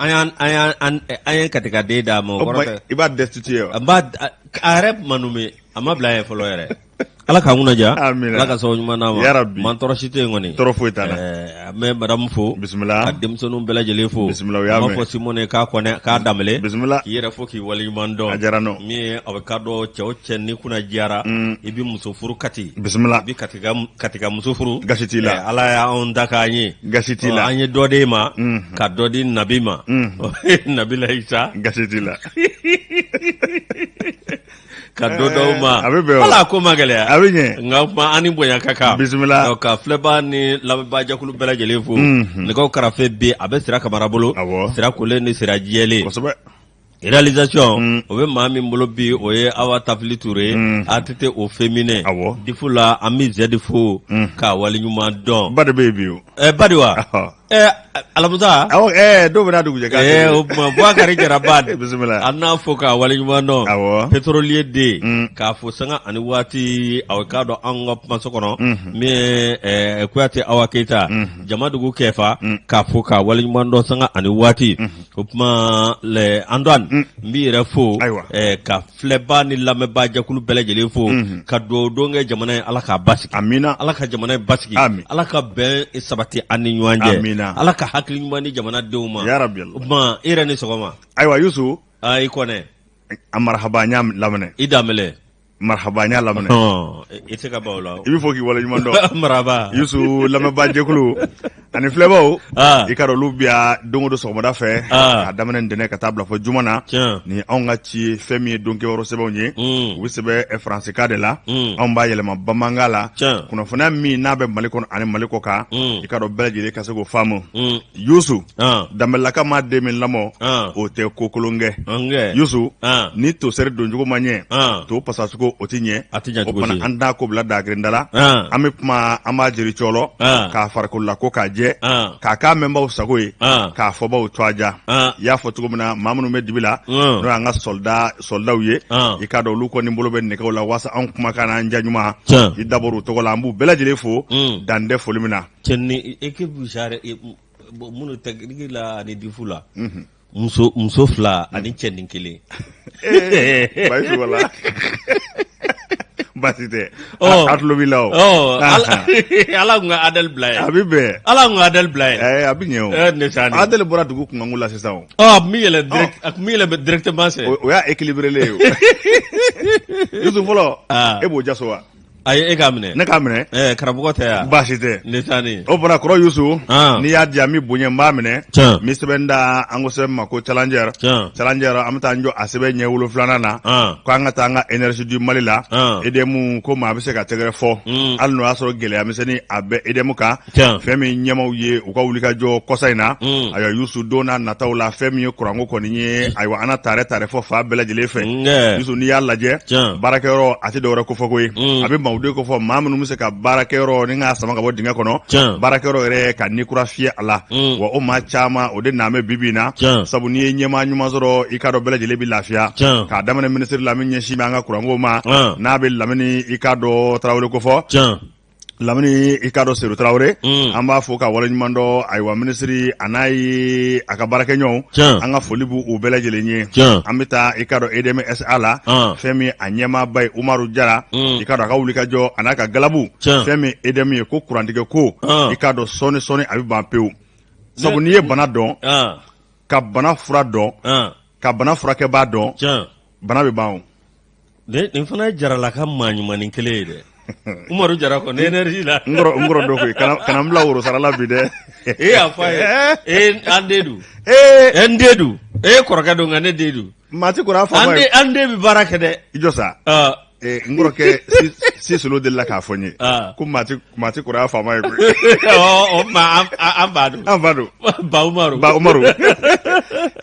an y'an an y'an an an ye katikaden d'a ma o O kɔrɔ kuma tɛ i b'a destituer wa? a b'a a a yɛrɛ ma nɔme a ma bila yen fɔlɔ yɛrɛ ala k'an kunna jiya Amina. ala ka sababu ɲuman d'a ma Yarabi. man tɔɔrɔ si tɛ yen kɔni Tɔɔrɔ foyi t'a la. Ɛɛ, an bɛ madamu fo Bisimila. ka denmisɛnninw bɛɛ lajɛlen fo Bisimila, u y'a mɛn. An b'a fo simone k'a kɔnɛ k'a danbɛlɛ Bisimila. k'i yɛrɛ fo k'i waleɲuman dɔn A diyara n ye. min ye a bɛ ka dɔn cɛ o cɛ n'i kunna jiyara i bɛ muso furu kati Bisimila. i bɛ kati katika muso furu gasi t'i la eh, ala y'an da k'an ɲɛ gasi t'i la an ye dɔ d'e ma mhm. ka dɔ di nabi ma mhm. nabilayi isa gasi t'i la ka dɔ d'aw eh, ma a bɛ bɛn ala ko ma gɛlɛya a bɛ ɲɛ nka kuma an ni bonya ka kan bisimila ka filɛbaa ni lamɛnbaa jɛkulu bɛɛ lajɛlen fo mhm. nɛgɛw karafe bi a bɛ sira kamara bolo sira kolen ni sira jɛlen kosɛbɛ Realisation o bɛ maa min bolo bi o ye Awa Tafili Ture ATT au feminin difu la an bɛ Z fo k'a waleɲuman dɔn Bad bɛ yen bi o Bad wa alamusa dɔw bɛna dugujɛ kɛ o tuma Buwakari Jara Bad bisimila an b'a fo k'a waleɲuman dɔn petrolier den k'a fo sanga ani waati aw k'a dɔn an ka kumaso kɔnɔ min ye Kuyate Awa Keyita Jamadugu Kɛfa k'a fo k'a waleɲuman dɔn sanga ani waati O tuma lɛ Antoine n b'i yɛrɛ fo, ayiwa, ka filɛbaa ni lamɛnbaajɛkulu bɛɛ lajɛlen fo, unhun, ka dugawu don kɛ jamana ye Ala k'a basigi, amina, Ala ka jamana in basigi, amin, Ala ka bɛn sabati an ni ɲɔgɔn cɛ, amina, Ala ka hakili ɲuman di jamana denw ma, yarabi, o tuma e yɛrɛ ni sɔgɔma, ayiwa Youssou, aa i Kɔnɛ, a marihaba n y'a laminɛ, i Danbɛlɛ marhaba n y'a laminɛ Ɔn, i tɛ ka ban o la. i bɛ fo k'i waleɲuman dɔn maraba yusu lamɛnbaa jɛkulu ani filɛbaw Ah. i k'a dɔn olu bi yan don o don sɔgɔmada fɛ Ah. k'a daminɛ ntɛnɛ ka taa bila fo juma na Tiɲɛ. ni anw ka ci ye fɛn min ye don kibaru sɛbɛnw ye Mm. u bɛ sɛbɛn eh, faransikan de la Mm. anw b'a yɛlɛma bamanankan la Tiɲɛ. kunnafoniya min n'a bɛ mali kɔnɔ ani mali kɔkan Mm. i k'a dɔn bɛɛ lajɛlen ka se k'o faamu Mm. yusu ah, danbɛlaka maa den min lamɔ ah, o tɛ ko kolon kɛ angɛ, yusu ah, ni tosɛri doncogo ma ɲɛ ah, to pasacogo o tɛ ɲɛ a tɛ ɲɛ o cogo si. fana an t'a ko bila dagirinda la Ah, an bɛ kuma an b'a jiri cɔlɔ ah, k'a farikolila ko k'a jɛ ah, k'a k'a mɛnbaw sago ye ah, k'a fɔbaw to a ja ah, i y'a fɔ cogo min na maa minnu bɛ dibi la n'o mm, y'an ka sɔlidaw ye ah, i k'a dɔn olu kɔni bolo bɛ nɛgɛw la waasa anw kumakan n'an ja ɲuman tiɲɛ, i dabɔra u tɔgɔ la an b'u bɛɛ lajɛlen fo mm. dan tɛ foli min na cɛnin ekipu minnu tɛkiniki la ani difu la muso fila ani cɛnin kelen basi tɛ a tulo b'i la ala tun ka Adel bila yen a bɛ bɛn ala tun ka Adel bila yen a bɛ ɲɛ Adel bɔra dugu kunkanko la sisan o a bɛ yɛlɛ directement o y'a équilibré ye yusu fɔlɔ e b'o jaso wa Ayi e k'a minɛ ne k'a minɛ ɛɛ karamɔgɔ tɛ yan baasi tɛ ne taa ne o fana kɔrɔ yusu n'i y'a di yan n bɛ bonya n b'a minɛ n bɛ sɛbɛn da an ko sɛbɛn ma ko challenger challenger an bɛ taa jɔ a sɛbɛn ɲɛ wolonfilanan na k' an ka taa an ka énergie du mali la edm ko maa bɛ se ka tɛgɛrɛ fɔ hali n'o y'a sɔrɔ gɛlɛya misɛnnin a bɛ edm kan Tiɲɛ. fɛn min ɲɛmaw ye u ka wulikajɔ kɔsa in na Mm. ayiwa yusu don n'a nataw la fɛn min ye kuranko kɔni ye ayiwa an na taare taare fɔ fa bɛɛ lajɛlen fɛ Nge. yusu n'i y'a lajɛ Tiɲɛ. baarakɛyɔrɔ a tɛ dɔwɛrɛ kofɔ koyi Mm. a bɛ maaw de kofɔ maa minnu bɛ se ka baarakɛyɔrɔ ni k'a sama ka bɔ dingɛ kɔnɔ Tiɲɛ. baarakɛyɔrɔ yɛrɛ ka ni kura fiyɛ a la Mm. wa o maa caman o de naan bɛ bibi in na Tiɲɛ. sabu n'i ye ɲɛmaa ɲuman sɔrɔ i k'a dɔn bɛɛ lajɛlen bɛ lafiya Tiɲɛ. k'a daminɛ minisiri la min ɲɛsin bɛ an ka kuranko ma Tiɲɛ. n'a bɛ lamini i k'a dɔn tarawele kofɔ Tiɲɛ. lamini i k'a dɔn sedu tarawele mm. an b'a fo ka waleɲuman dɔn ayiwa minisiri a n'a ye a ka baarakɛɲɔgɔnw an ka foli b'u bɛɛ lajɛlen ye an bɛ taa i k'a dɔn edmsa la ah. fɛn min a ɲɛmaaba ye umaru jara mm. i k'a dɔn a ka wulikajɔ a n'a ka galabu fɛn min edm ye ko kurantigɛko ah. i k'a dɔn sɔɔni sɔɔni a bɛ ban pewu sabu n'i ye bana dɔn ah. ka bana fura dɔn ka bana furakɛbaa dɔn bana bɛ ban nin fana ye jarala ka maa ɲuman kelen ye dɛ umaru jara kɔni énergie la n kɔrɔ don koyi kana n bila woro sara la bi dɛ e y'a fɔ a ye e an den don e n den don e kɔrɔkɛ don nka ne den don maa ti kɔrɔ faama ye an den bɛ baara kɛ dɛ i jɔ sa n kɔrɔkɛ si solo delila k'a fɔ n ye ko maa ti Maa tɛ kɔrɔ faama ye an b'a dɔn an b'a dɔn ba umaru ba umaru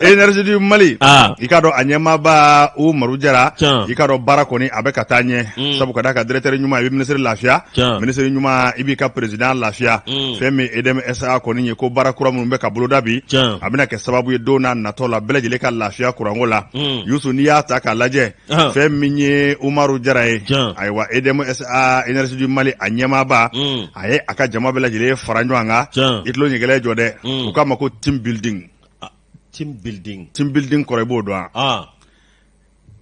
énergie du mali i k'a dɔn a ɲɛmaaba umaru jara i k'a dɔn baara kɔni a bɛ ka taa ɲɛ sabu ka d'a kan dirɛkitɛri ɲuman i bɛ minisiri lafiya minisiri ɲuman i b'i ka perezidan lafiya fɛn min edmsa kɔni ye ko baara kura minnu bɛ ka boloda bi a bɛna kɛ sababu ye don n'a natɔ la bɛɛ lajɛlen ka lafiya kuranko la yusu n'i y'a ta k'a lajɛ Ahan. fɛn min ye umaru jara ye Jan. ayiwa edmsa énergie du mali a ɲɛmaaba Mm. a ye a ka jama bɛɛ lajɛlen fara ɲɔgɔn kan Jan. i tulo ɲɛgɛlɛ jɔ dɛ Mm. u k'a ma ko team building Team building. team building kɔrɔ i b'o dɔn wa? Ah.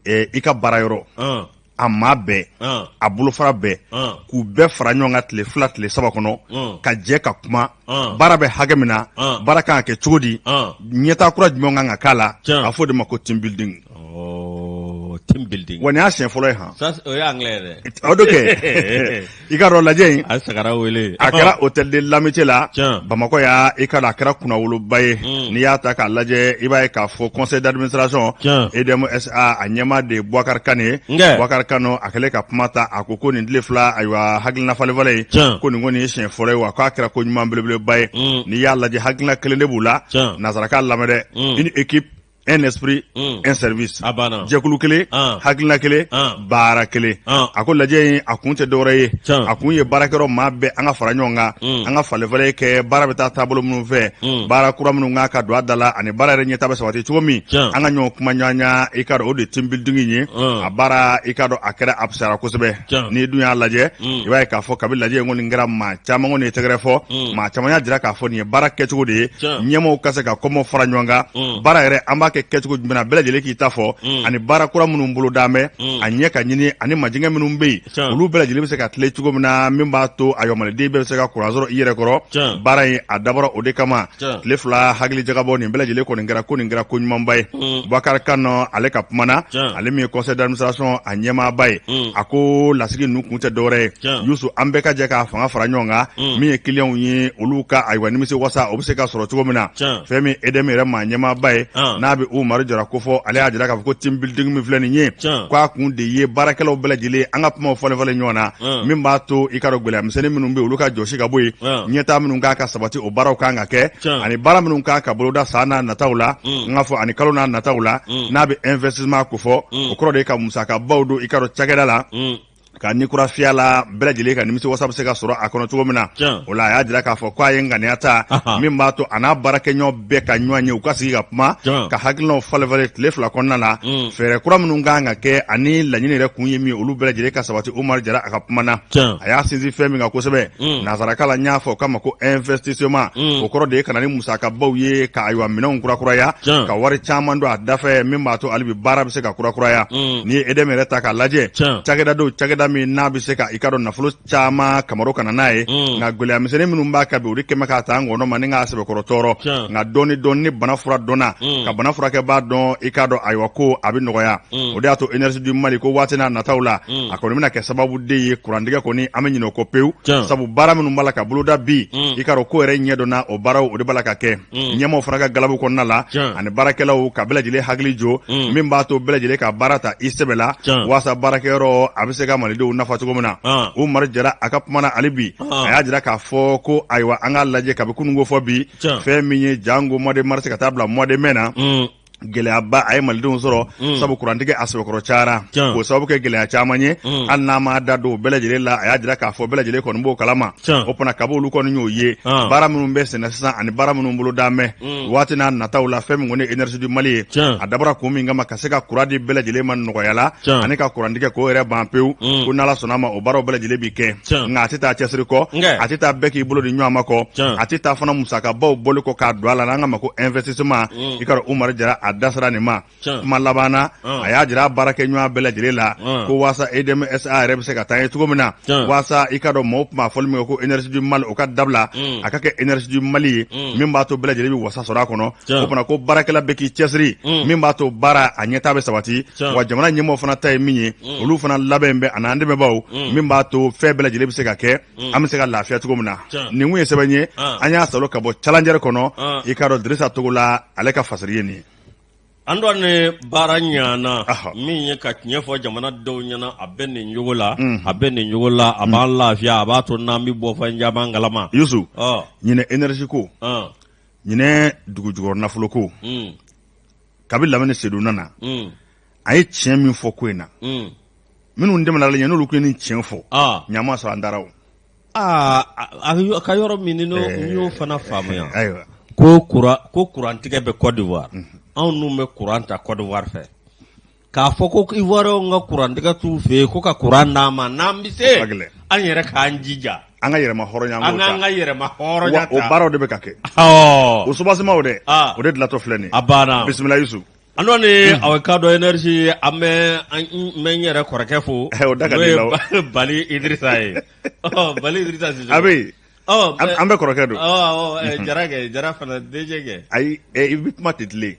Eh, i ka baarayɔrɔ Ah. a maa bɛɛ Ah. a bolofara bɛɛ Ah. k'u bɛɛ fara ɲɔgɔn kan tile fila tile saba kɔnɔ Mm. ka jɛ ka kuma Mm. baara bɛ hakɛ min na Mm. baara kan ka kɛ cogo di Mm. ɲɛtaa kura jumɛn kan ka k'a la Tiɲɛ. a fɔ o de ma ko team building Wa nin y'a siɲɛ fɔlɔ ye han i k'a dɔn lajɛ in a sagara wele a kɛra hôtel de l'amitié la bamakɔ yan i k'a dɔn a kɛra kunnawoloba ye n'i y'a ta k'a lajɛ i b'a ye k'a fɔ conseil d'administration edmsa a ɲɛmaa de ye buwakari kane ye buwakari kane a kɛlen ka kuma ta a ko ko nin tile fila ayiwa hakilina falenfalen ye ko nin kɔni ye siɲɛ fɔlɔ ye wa k'a kɛra ko ɲuman belebeleba ye n'i y'a lajɛ hakilina kelen de b'u la nanzarakan lamɛn dɛ une équipe un esprit un hmm. service a banna jɛkulu kelen hakilina kelen baara kelen a ko lajɛ in a kun tɛ dɔwɛrɛ ye a kun ye baarakɛyɔrɔ maa bɛɛ an ka fara ɲɔgɔn kan hmm. an ka falenfalen kɛ baara bɛ taa taabolo minnu fɛ hmm. baara kura minnu kan ka don a da la ani baara yɛrɛ ɲɛtaa bɛ sabati cogo min an ka ɲɔgɔn kuma ɲɔgɔnya i ka dɔn o de ye team building ye a baara i ka dɔn a kɛra a fisayara kosɛbɛ n'i dun y'a lajɛ mm. i b'a ye k'a fɔ kabi lajɛ in kɔni kɛra maa caman kɔni ye tɛgɛrɛ fɔ mm. maa caman y'a jira k'a fɔ nin ye baara kɛcogo de ye ɲɛmɔgɔw ka se ka kɔmɔ fara ɲɔgɔn kan mm. baara yɛrɛ an b'a kɛ kɛcogo jumɛn na bɛɛ lajɛlen k'i ta fɔ ani baara kura minnu bolodalen bɛ a ɲɛ ka ɲini ani majigɛ minnu bɛ yen olu bɛɛ lajɛlen bɛ se ka tilen cogo min na min b'a to ayiwa maliden bɛɛ bɛ se ka kuran sɔrɔ i yɛrɛ kɔrɔ baara in a dabɔra o de kama tile fila hakili jagabɔ nin bɛɛ lajɛlen kɔni kɛra ko nin kɛra ko ɲumanba ye mm. bakari kanɛ ale ka kuma na ale min ye conseil d'administration a ɲɛmaaba ye mm. a ko lasigi ninnu kun tɛ dɔwɛrɛ ye yusu an bɛɛ ka jɛ k'an fanga fara ɲɔgɔn kan mm. min ye kiliyanw ye olu ka ayiwa nimisi wasa o bɛ se ka sɔrɔ cogo min na fɛn min EDM yɛrɛ maa ɲɛmaaba ye ah. n'a bɛ Umaru Jara ko fɔ ale y'a jira k'a fɔ ko team building min filɛ nin ye k'a kun de ye baarakɛlaw bɛɛ lajɛlen an ka kumaw falen-falen ɲɔgɔn na ah. min b'a to i ka dɔn gɛlɛya misɛnnin minnu bɛ olu ka jɔsi ka bɔ yen ah. ɲɛtaa minnu kan ka sabati o baaraw kan ka kɛ Tiɲɛ. ani baara minnu kan ka boloda san n'a nataw la n k'a fɔ ani kalo n'a nataw la n'a bɛ investissement ko fɔ o kɔrɔ de ye ka musakabaw don i ka dɔn cakɛda la Mm. ka ni kuran fiya la bɛɛ lajɛlen ka nimisi wasa bɛ se ka sɔrɔ a kɔnɔ cogo min na Tiɲɛ. o la a y'a jira k'a fɔ k'a ye ŋaniya ta Ahan. min b'a to a n'a baarakɛɲɔgɔn bɛɛ ka ɲɔgɔn ye u ka sigi ka kuma Tiɲɛ. ka hakilinaw falenfalen tile fila kɔnɔna la Mm. fɛɛrɛ kura minnu kan ka kɛ ani laɲini yɛrɛ kun ye min ye, olu bɛɛ lajɛlen ka sabati Umaru Jara a ka kuma na a y'a sinsin fɛn min kan kosɛbɛ mm. nansarakan la y'a fɔ k'a ma ko investissement mm. o kɔrɔ de ye ka na ni musakabaw ye ka ayiwa minɛnw kurakuraya ka wari caman don a dafɛ min b'a to hali bi baara bɛ se ka kurakuraya mm. n'i ye EDM yɛrɛ ta k'a lajɛ cakɛda don cakɛda min n'a bɛ se ka i ka dɔn nafolo caman kama ka na n'a ye nka gɛlɛyamisɛnnin minnu b'a kan bi o de kɛlen bɛ k'a ta a ngɔnɔ ma ni k'a sɛbɛkɔrɔ tɔɔrɔ nka dɔɔni dɔn ni bana fura dɔnna ka bana furakɛbaa dɔn i k'a dɔn ayiwa ko a bɛ nɔgɔya o de y'a to énergie du Mali ko waati n'a nataw la a kɔni bɛna kɛ sababu de ye kurantigɛ kɔni an bɛ ɲinɛ o kɔ pewu sabu baara minnu b'a la ka boloda bi i k'a dɔn ko yɛrɛ ɲɛdɔnna o baaraw o de b'a la ka kɛ ɲɛmaaw fana ka galabukɛnɛya la ani baarakɛlaw ka bɛɛ lajɛlen hakili jo min b'a to bɛɛ lajɛlen ka baara ta i sɛbɛ la waasa baarakɛyɔrɔ a bɛ se ka malidenw nafa cogo min na Umaru Jara a ka kuma na hali bi a y'a jira k'a fɔ ko ayiwa an k'a lajɛ kabi kunun ko fo bi fɛn min ye janko mois de mars ka taa bila mois de mai na gɛlɛyaba a ye malidenw sɔrɔ mm. sabu kurantigɛ a sɛbɛkɔrɔ cayara k'o sababu kɛ gɛlɛya caman ye mm. hali n'a ma da don bɛɛ lajɛlen la a y'a jira k'a fɔ bɛɛ lajɛlen kɔni b'o kalama o fana kabi olu kɔni y'o ye ah. baara minnu bɛ senna sisan ani baara minnu bolodalen bɛ mm. waati n'a nataw la fɛn min kɔni énergie du mali ye a dabɔra kun min kama ka se ka kuran di bɛɛ lajɛlen ma nɔgɔya la ani ka kurantigɛ k'o yɛrɛ ban pewu ko n'ala sɔnna a ma o baaraw bɛɛ lajɛlen bɛ kɛ nka a tɛ taa cɛsiri kɔ a tɛ taa bɛɛ k'i bolo di ɲɔgɔn ma kɔ a tɛ taa fana musakabaw bɔli kɔ k'a don a la n'an ka ma ko investissement mm. i k'a dɔn Umaru Jara a da sera nin ma kuma laban na a y'a jira a baarakɛɲɔgɔn bɛɛ lajɛlen la ko walasa EDM SA yɛrɛ bɛ se ka taa ɲɛ cogo min na walasa i k'a dɔn mɔgɔw tun b'a fɔli min kɛ ko Énergie du mal o ka dabila mm. a ka kɛ Énergie du Mali ye mm. min b'a to bɛɛ lajɛlen bɛ wasa sɔrɔ a kɔnɔ o fana ko baarakɛla bɛɛ k'i cɛsiri mm. min b'a to baara a ɲɛtaa bɛ sabati wa jamana ɲɛmɔgɔ fana ta ye min ye mm. olu fana labɛn bɛ ani an dɛmɛbaaw mm. min b'a to fɛn bɛɛ lajɛlen bɛ se ka kɛ an bɛ se ka lafiya cogo min na nin tun ye sɛbɛn ye ah. an y'a salo ka bɔ Challenger kɔnɔ ah. i k'a dɔn Dirisa Togola ale ka fasiri ye nin ye Andoni baara ɲana min ye ka tiɲɛ fɔ jamanadenw ɲɛna a bɛ nin jogo la mhm. a bɛ nin jogo la a b'an mhm. lafiya a b'a to n'an bɛ bɔ fɛn caman kalama Yusu ɲinɛ énergie ko ɲinɛ dugujukɔrɔ nafoloko mm. kabi Lamini Seyidu nana mm. a ye tiɲɛ min fɔ ko in na mm. minnu tɛmɛna ale ɲɛ n'olu tun ye nin tiɲɛ fɔ ah. ɲama sɔrɔ an dara o ah, a ka yɔrɔ min ni eh. y'o fana faamuya ayiwa ko kuran ko kurantigɛ bɛ Côte d'Ivoire mhm. anw n'u bɛ kuran ta Côte d'Ivoire fɛ K'a fɔ ko Ivoirienw ka kurantigɛ t'u fɛ yen ko ka kuran d'an ma n'an bɛ se an yɛrɛ k'an jija an ka yɛrɛmahɔrɔnya an ka yɛrɛmahɔrɔnya ta o baaraw de bɛ ka kɛ o soubassement de o de dilantɔ filɛ nin a banna bisimila Yusufu Andoni a bɛ k'a dɔn énergie an bɛ n yɛrɛ kɔrɔkɛ fo n'o ye Bali Idrissa ye Bali Idrissa a bɛ an bɛɛ kɔrɔkɛ don Jara Jara fana DG kɛ ayi i bɛ kuma tɛ tile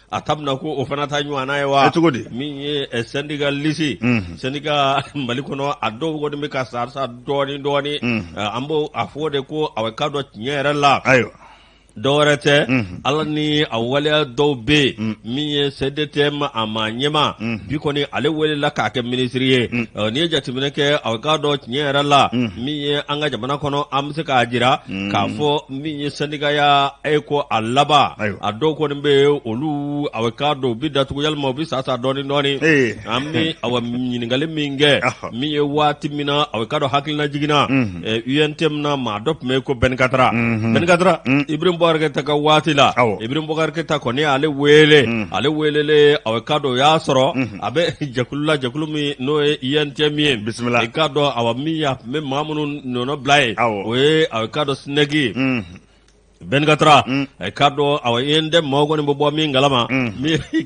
a ta bɛna ko o fana taa ɲɔgɔnna ye wa cogo di min ye syndicaliste syndicat Mali kɔnɔ a dɔw kɔni bɛ ka sa sa dɔɔnin dɔɔnin an b' a fɔ de ko a k'a dɔn tiɲɛ yɛrɛ la ayiwa dɔ wɛrɛ tɛ a la ni a waleya dɔw bɛ yen min ye CDTM a maa ɲɛmaa bi kɔni ale welela k'a kɛ minisiri ye n'i ye jateminɛ kɛ a k'a dɔn tiɲɛ yɛrɛ la min ye an ka jamana kɔnɔ an bɛ se k'a jira k'a fɔ min ye sɛndikaya ye ko a laban a dɔw kɔni bɛ yen olu a bɛ k'a dɔn u bɛ datugu yalima u bɛ sa sa dɔɔnin dɔɔnin an bɛ a ɲininkali min kɛ min ye waati min na a bɛ k'a dɔn hakilina jiginna UNTM na maa dɔ tun bɛ yen ko Ben Kattra Ben Kattra Ibrahim Boubacar Keita ka waati la Ibrahim Boubacar Keita kɔni ale wele ale wele a bɛ k'a dɔn o y'a sɔrɔ a bɛ jɛkulu la jɛkulu min n'o ye UNTM ye i k'a dɔn a min n bɛ maa minnu nɔnɔ bila ye o ye a k'a dɔn SNEC ye Ben Kattra a k'a dɔn a ye n tɛ maa kɔni bɛ bɔ min kalama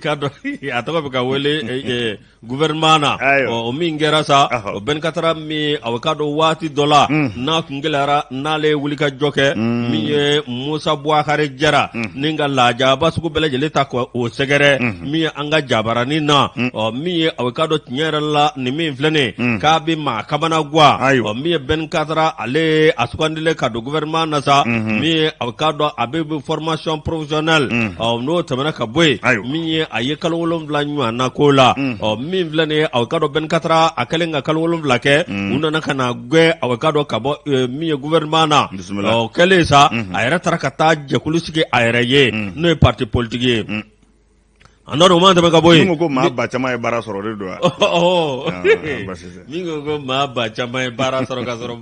k'a dɔn a tɔgɔ bɛ ka wele gouvernement na o min kɛra sa o Ben Kattra min a k'a dɔn waati dɔ la n'a kun gɛlɛyara n'ale ye wulikajɔ kɛ min ye Musa Buwakari Jara ni ka lajaba sugu bɛɛ lajɛlen ta o sɛgɛrɛ min ye an ka jabaranin na mm. ɔ min ye a k'a dɔn tiɲɛ yɛrɛ la nin min filɛnen mm. k'a bɛ maa kamana guwa ɔ min ye Ben Kattra ale a sugandilen ka don gouvernement na sa mm-hmm. min ye a k'a dɔn a bɛ formation professionnelle mm. ɔ n'o tɛmɛna ka bɔ yen min ye a ye kalo wolonwula ɲɔgɔn na k'o la ɔ min filɛnen a k'a dɔn Ben Kattra a kɛlen ka kalo wolonwula kɛ u nana ka n'a gɛn a k'a dɔn ka bɔ e, min ye gouvernement na ɔ kɛlen sa mm-hmm. a yɛrɛ taara ka taa jɛkulu sigi a yɛrɛ ye n'o ye parti politique ye A n'a dɔn ma tɛmɛ ka bɔ yen ko maa ba caman ye baara sɔrɔ de don min ko ko maa ba caman ye baara sɔrɔ ka sɔrɔ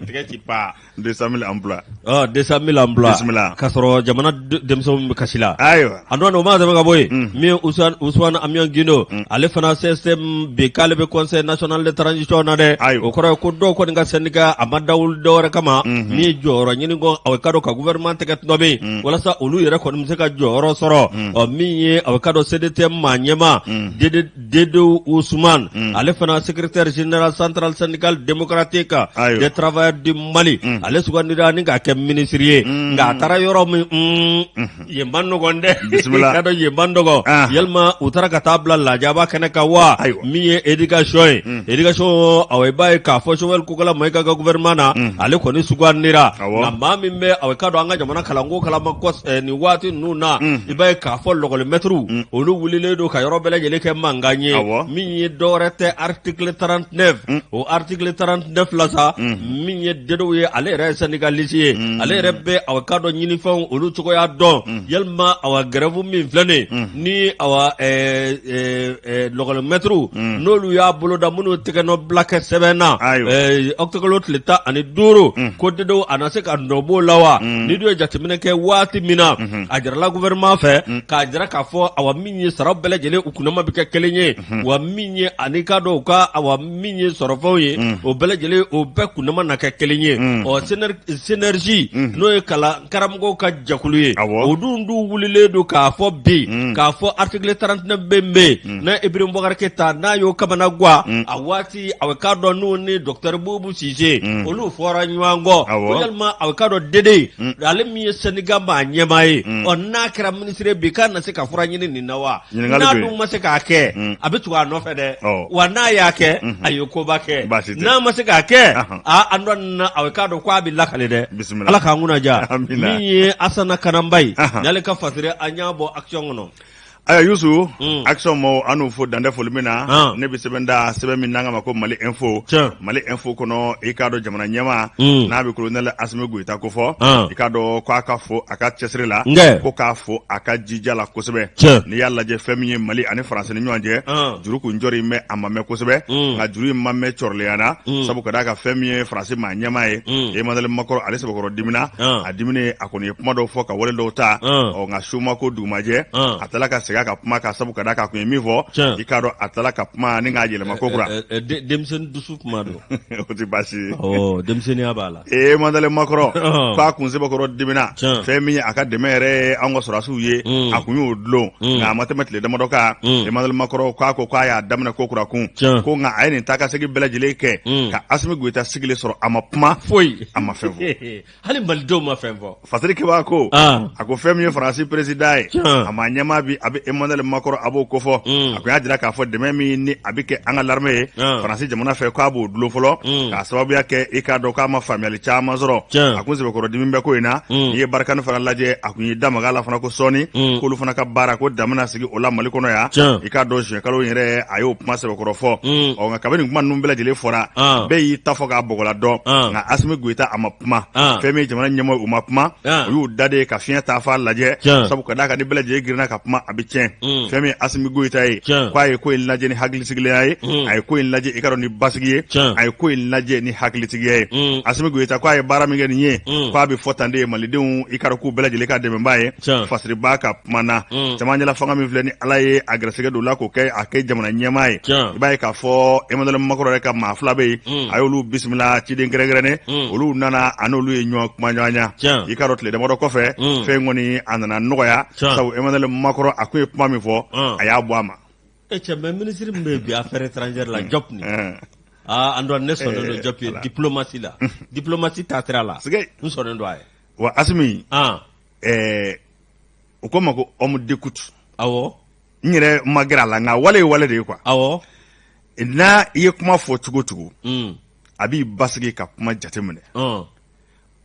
tɛgɛ ci pa 200 000 emplois 200 000 emplois ka sɔrɔ jamana denmisɛnw bɛ kasi la ayiwa a dɔn ma tɛmɛ ka bɔ yen min Ousmane Amion Guindo ale fana CSTM bi k'ale bɛ conseil national de transition na dɛ ayi o kɔrɔ ko dɔw kɔni ka syndicat a ma dawuli dɔwɛrɛ kama min jɔyɔrɔ ɲini kɔ a k'a dɔn ka gouvernement tɛgɛ tɔnɔmi walasa olu yɛrɛ kɔni bɛ se ka jɔyɔrɔ sɔrɔ ɔ min ye a bɛ k'a dɔn CDTM maa ɲɛmaa Dédéou Ousmane ale fana secrétaire général centrale syndicale démocratique des travailleurs du Mali ale sugandira ni k'a kɛ minisiri ye nka a taara yɔrɔ min yen man nɔgɔ dɛ bisimila dɔn yen man nɔgɔ yalima u taara ka t'a bila lajaba kɛnɛ kan wa min ye éducation ye éducation i b'a ye k'a fɔ Choguel Kokalla Maïga ka gouvernement na ale kɔni sugandira nka maa min bɛ aw k'a dɔn an ka jamana kalanko kalama nin waati ninnu na i b'a ye k'a fɔ lɔgɔlimɛtiriw olu wulilen don ka yɔrɔ bɛɛ lajɛlen kɛ mankan ye min ye dɔwɛrɛ tɛ article 39 o article 39 la sa min ye Dédéou ye ale yɛrɛ ye syndicaliste ye ale yɛrɛ bɛ aw k'a dɔn ɲinifɛnw olu cogoya dɔn yalima aw grève min filɛ nin ni aw lɔgɔlimɛtiriw n'olu y'a boloda minnu tɛgɛnɔ bila kɛ sɛbɛn na octobre kalo tile tan ani duuru ko Dédéou a na se ka nɔ bɔ o la wa n'i dun ye jateminɛ kɛ waati min na a jarala gouvernement fɛ k'a jira k'a fɔ a min ye sara bɛɛ lajɛlen u kundama bɛ kɛ kelen ye wa min ye ani k'a dɔn u ka min ye sɔrɔfɛnw ye o bɛɛ lajɛlen o bɛɛ kundama na kɛ kelen ye ɔ synergie n'o ye kalan karamɔgɔw ka jɛkulu ye o dun dun wulilen don k'a fɔ bi k'a fɔ article 39 bɛ bɛ yen n'a Ibrahim Boubacar Keïta n'a y'o kamana guwa a waati a k'a dɔn n'o ni docteur Boubou Cissé olu fɔra ɲɔgɔn kɔ yalima a k'a dɔn Dédéou ale min ye syndicat maa ɲɛmaa ye ɔ n'a kɛra minisiri bi k'a na se ka fura ɲini nin na wa Ɲininkali bɛ yen. N'a dun ma se k'a kɛ. Un. A bɛ tugu a nɔfɛ dɛ. Awɔ. Wa n'a y'a kɛ. Unhun. A ye koba kɛ. Baasi tɛ. N'a ma se k'a kɛ. Ahan. Aa an dɔn na a k'a dɔn k'a bɛ lakale dɛ. Bisimila. Ala k'an kunna ja. Amina. Min ye Asana Kananba ye. Ahan. N'ale ka fasiri an y'a bɔ action kɔnɔ. Ayiwa Yusu, Mm. action mɔgɔw an n'u fo dantɛ foli min na, Ah. ne bɛ sɛbɛn da sɛbɛn min n'an k'a ma ko Mali Info. Tiɲɛ. Mali Info kɔnɔ i k'a dɔn jamana ɲɛmaa Mm. n'a bɛ kolonɛli Asimi Goyita ko fɔ, Ah. i k'a dɔn k'a ka fo a ka cɛsiri la Nkɛ. ko k'a fo a ka jija la kosɛbɛ Tiɲɛ. n'i y'a lajɛ fɛn min ye mali ani faransi ni ɲɔgɔn cɛ An. juru kun jɔlen bɛ a ma mɛn kosɛbɛ Mm. nka juru in ma mɛn cɔrɔlenya na Mm. sabu ka d'a kan fɛn min ye faransi maa ɲɛmaa ye Mm. emmanuel macron ale sɛbɛkɔrɔ dimina An. a diminen a kɔni ye kuma dɔw fɔ ka wale dɔw ta An. ɔ nka su ma ko dugu ma jɛ An. a tala ka segin a ka kuma kan sabu ka d'a kan a kun ye min fɔ Tiɲɛ. i k'a dɔn a tala ka kuma nin k'a yɛlɛma ko kura Ɛ, ɛ, de- denmisɛnnin dusu kuma don o tɛ baasi ye ɔ denmisɛnninya b'a la emmanuel macron Ɔhɔn. k'a kun sɛbɛkɔrɔ dimina Tiɲɛ. fɛn min ye a ka dɛmɛ yɛrɛ ye an ka sɔrɔdasiw ye Mm. a kun y'o dulon Mm. nka a ma tɛmɛ tile damadɔ kan Mm. emmanuel macron k'a ko k'a y'a daminɛ ko kura kun Tiɲɛ. ko nka a ye nin taa ka segin bɛɛ lajɛlen kɛ Mm. ka asimi goyita sigilen sɔrɔ a ma kuma foyi a ma fɛn fɔ hali malidenw ma fɛn fɔ Fasirikɛbaa ko a ko fɛn min ye faransi peresidan ye a maa ɲɛmaa bi a bɛ emmanuel macron a b'o ko fɔ a kun y'a jira k'a fɔ dɛmɛ min ni a bɛ kɛ an ka l'armée ye faransi jamana fɛ k'a b'o dulon fɔlɔ k'a sababuya kɛ i k'a dɔn k'a ma faamuyali caman sɔrɔ a kun sɛbɛkɔrɔ dimi bɛ ko in na n'i ye barikani fana lajɛ a tun y'i da maga a la fana ko sɔɔni k'olu fana ka baara ko dan bɛna sigi o la mali kɔnɔ yan i k'a dɔn juin kalo yɛrɛ a y'o kuma sɛbɛkɔrɔ fɔ ɔ nka kabini kuma ninnu bɛɛ lajɛlen fɔra bɛɛ y'i ta fɔ k'a bla dɔn nka asimi goyita a ma kuma fɛn min jamana ɲɛmaaw u ma kuma u y'u da de ka fiɲɛ taafan lajɛ sabu ka d'a kan ni bɛɛ lajɛlen girinna ka kuma a bɛ tiɲɛ mm. fɛn min asimi goyita ye k'a ye ko in lajɛ ni hakilisigiya ye mm. a ye ko in lajɛ i k'a dɔn ni basigi ye a ye ko in lajɛ ni hakilitigiya ye mm. asimi goyita k'a ye baara min kɛ nin ye k'a bɛ fɔ tan de malidenw i k'a dɔn k'u bɛɛ lajɛlen ka dɛmɛ b'a ye fasiribaa ka tuma na mm. cɛmancɛla fanga min filɛ ni ala ye a gɛrɛsɛgɛ don la k'o kɛ a kɛ jamana ɲɛmaa ye i b'a ye k'a fɔ emmanuel macron yɛrɛ ka maa fila bɛ yen mm. a y'olu bisimila ciden kɛrɛnkɛrɛnnen mm. olu nana a n'olu ye ɲɔgɔn kumaɲɔgɔnya i k'a dɔn tile damadɔ kɔfɛ fɛn kɔni a nana nɔgɔya sabu emmanuel macron a kun ye kuma min fɔ a y'a bɔ a ma e cɛ mɛ minisiri min bɛ yen bi affaire étrangère la diop nin aa an dɔn ne sɔnnen don diop ye diplomasi la diplomasi taasira la n sɔnnen don a ye wa asimi ɛɛ u k'o ma ko homme d'écoute awɔ n yɛrɛ ma gɛrɛ a la nka wale ye wale de ye quoi awɔ n'a i ye kuma fɔ cogo o cogo un a b'i basigi ka kuma jateminɛ ɔn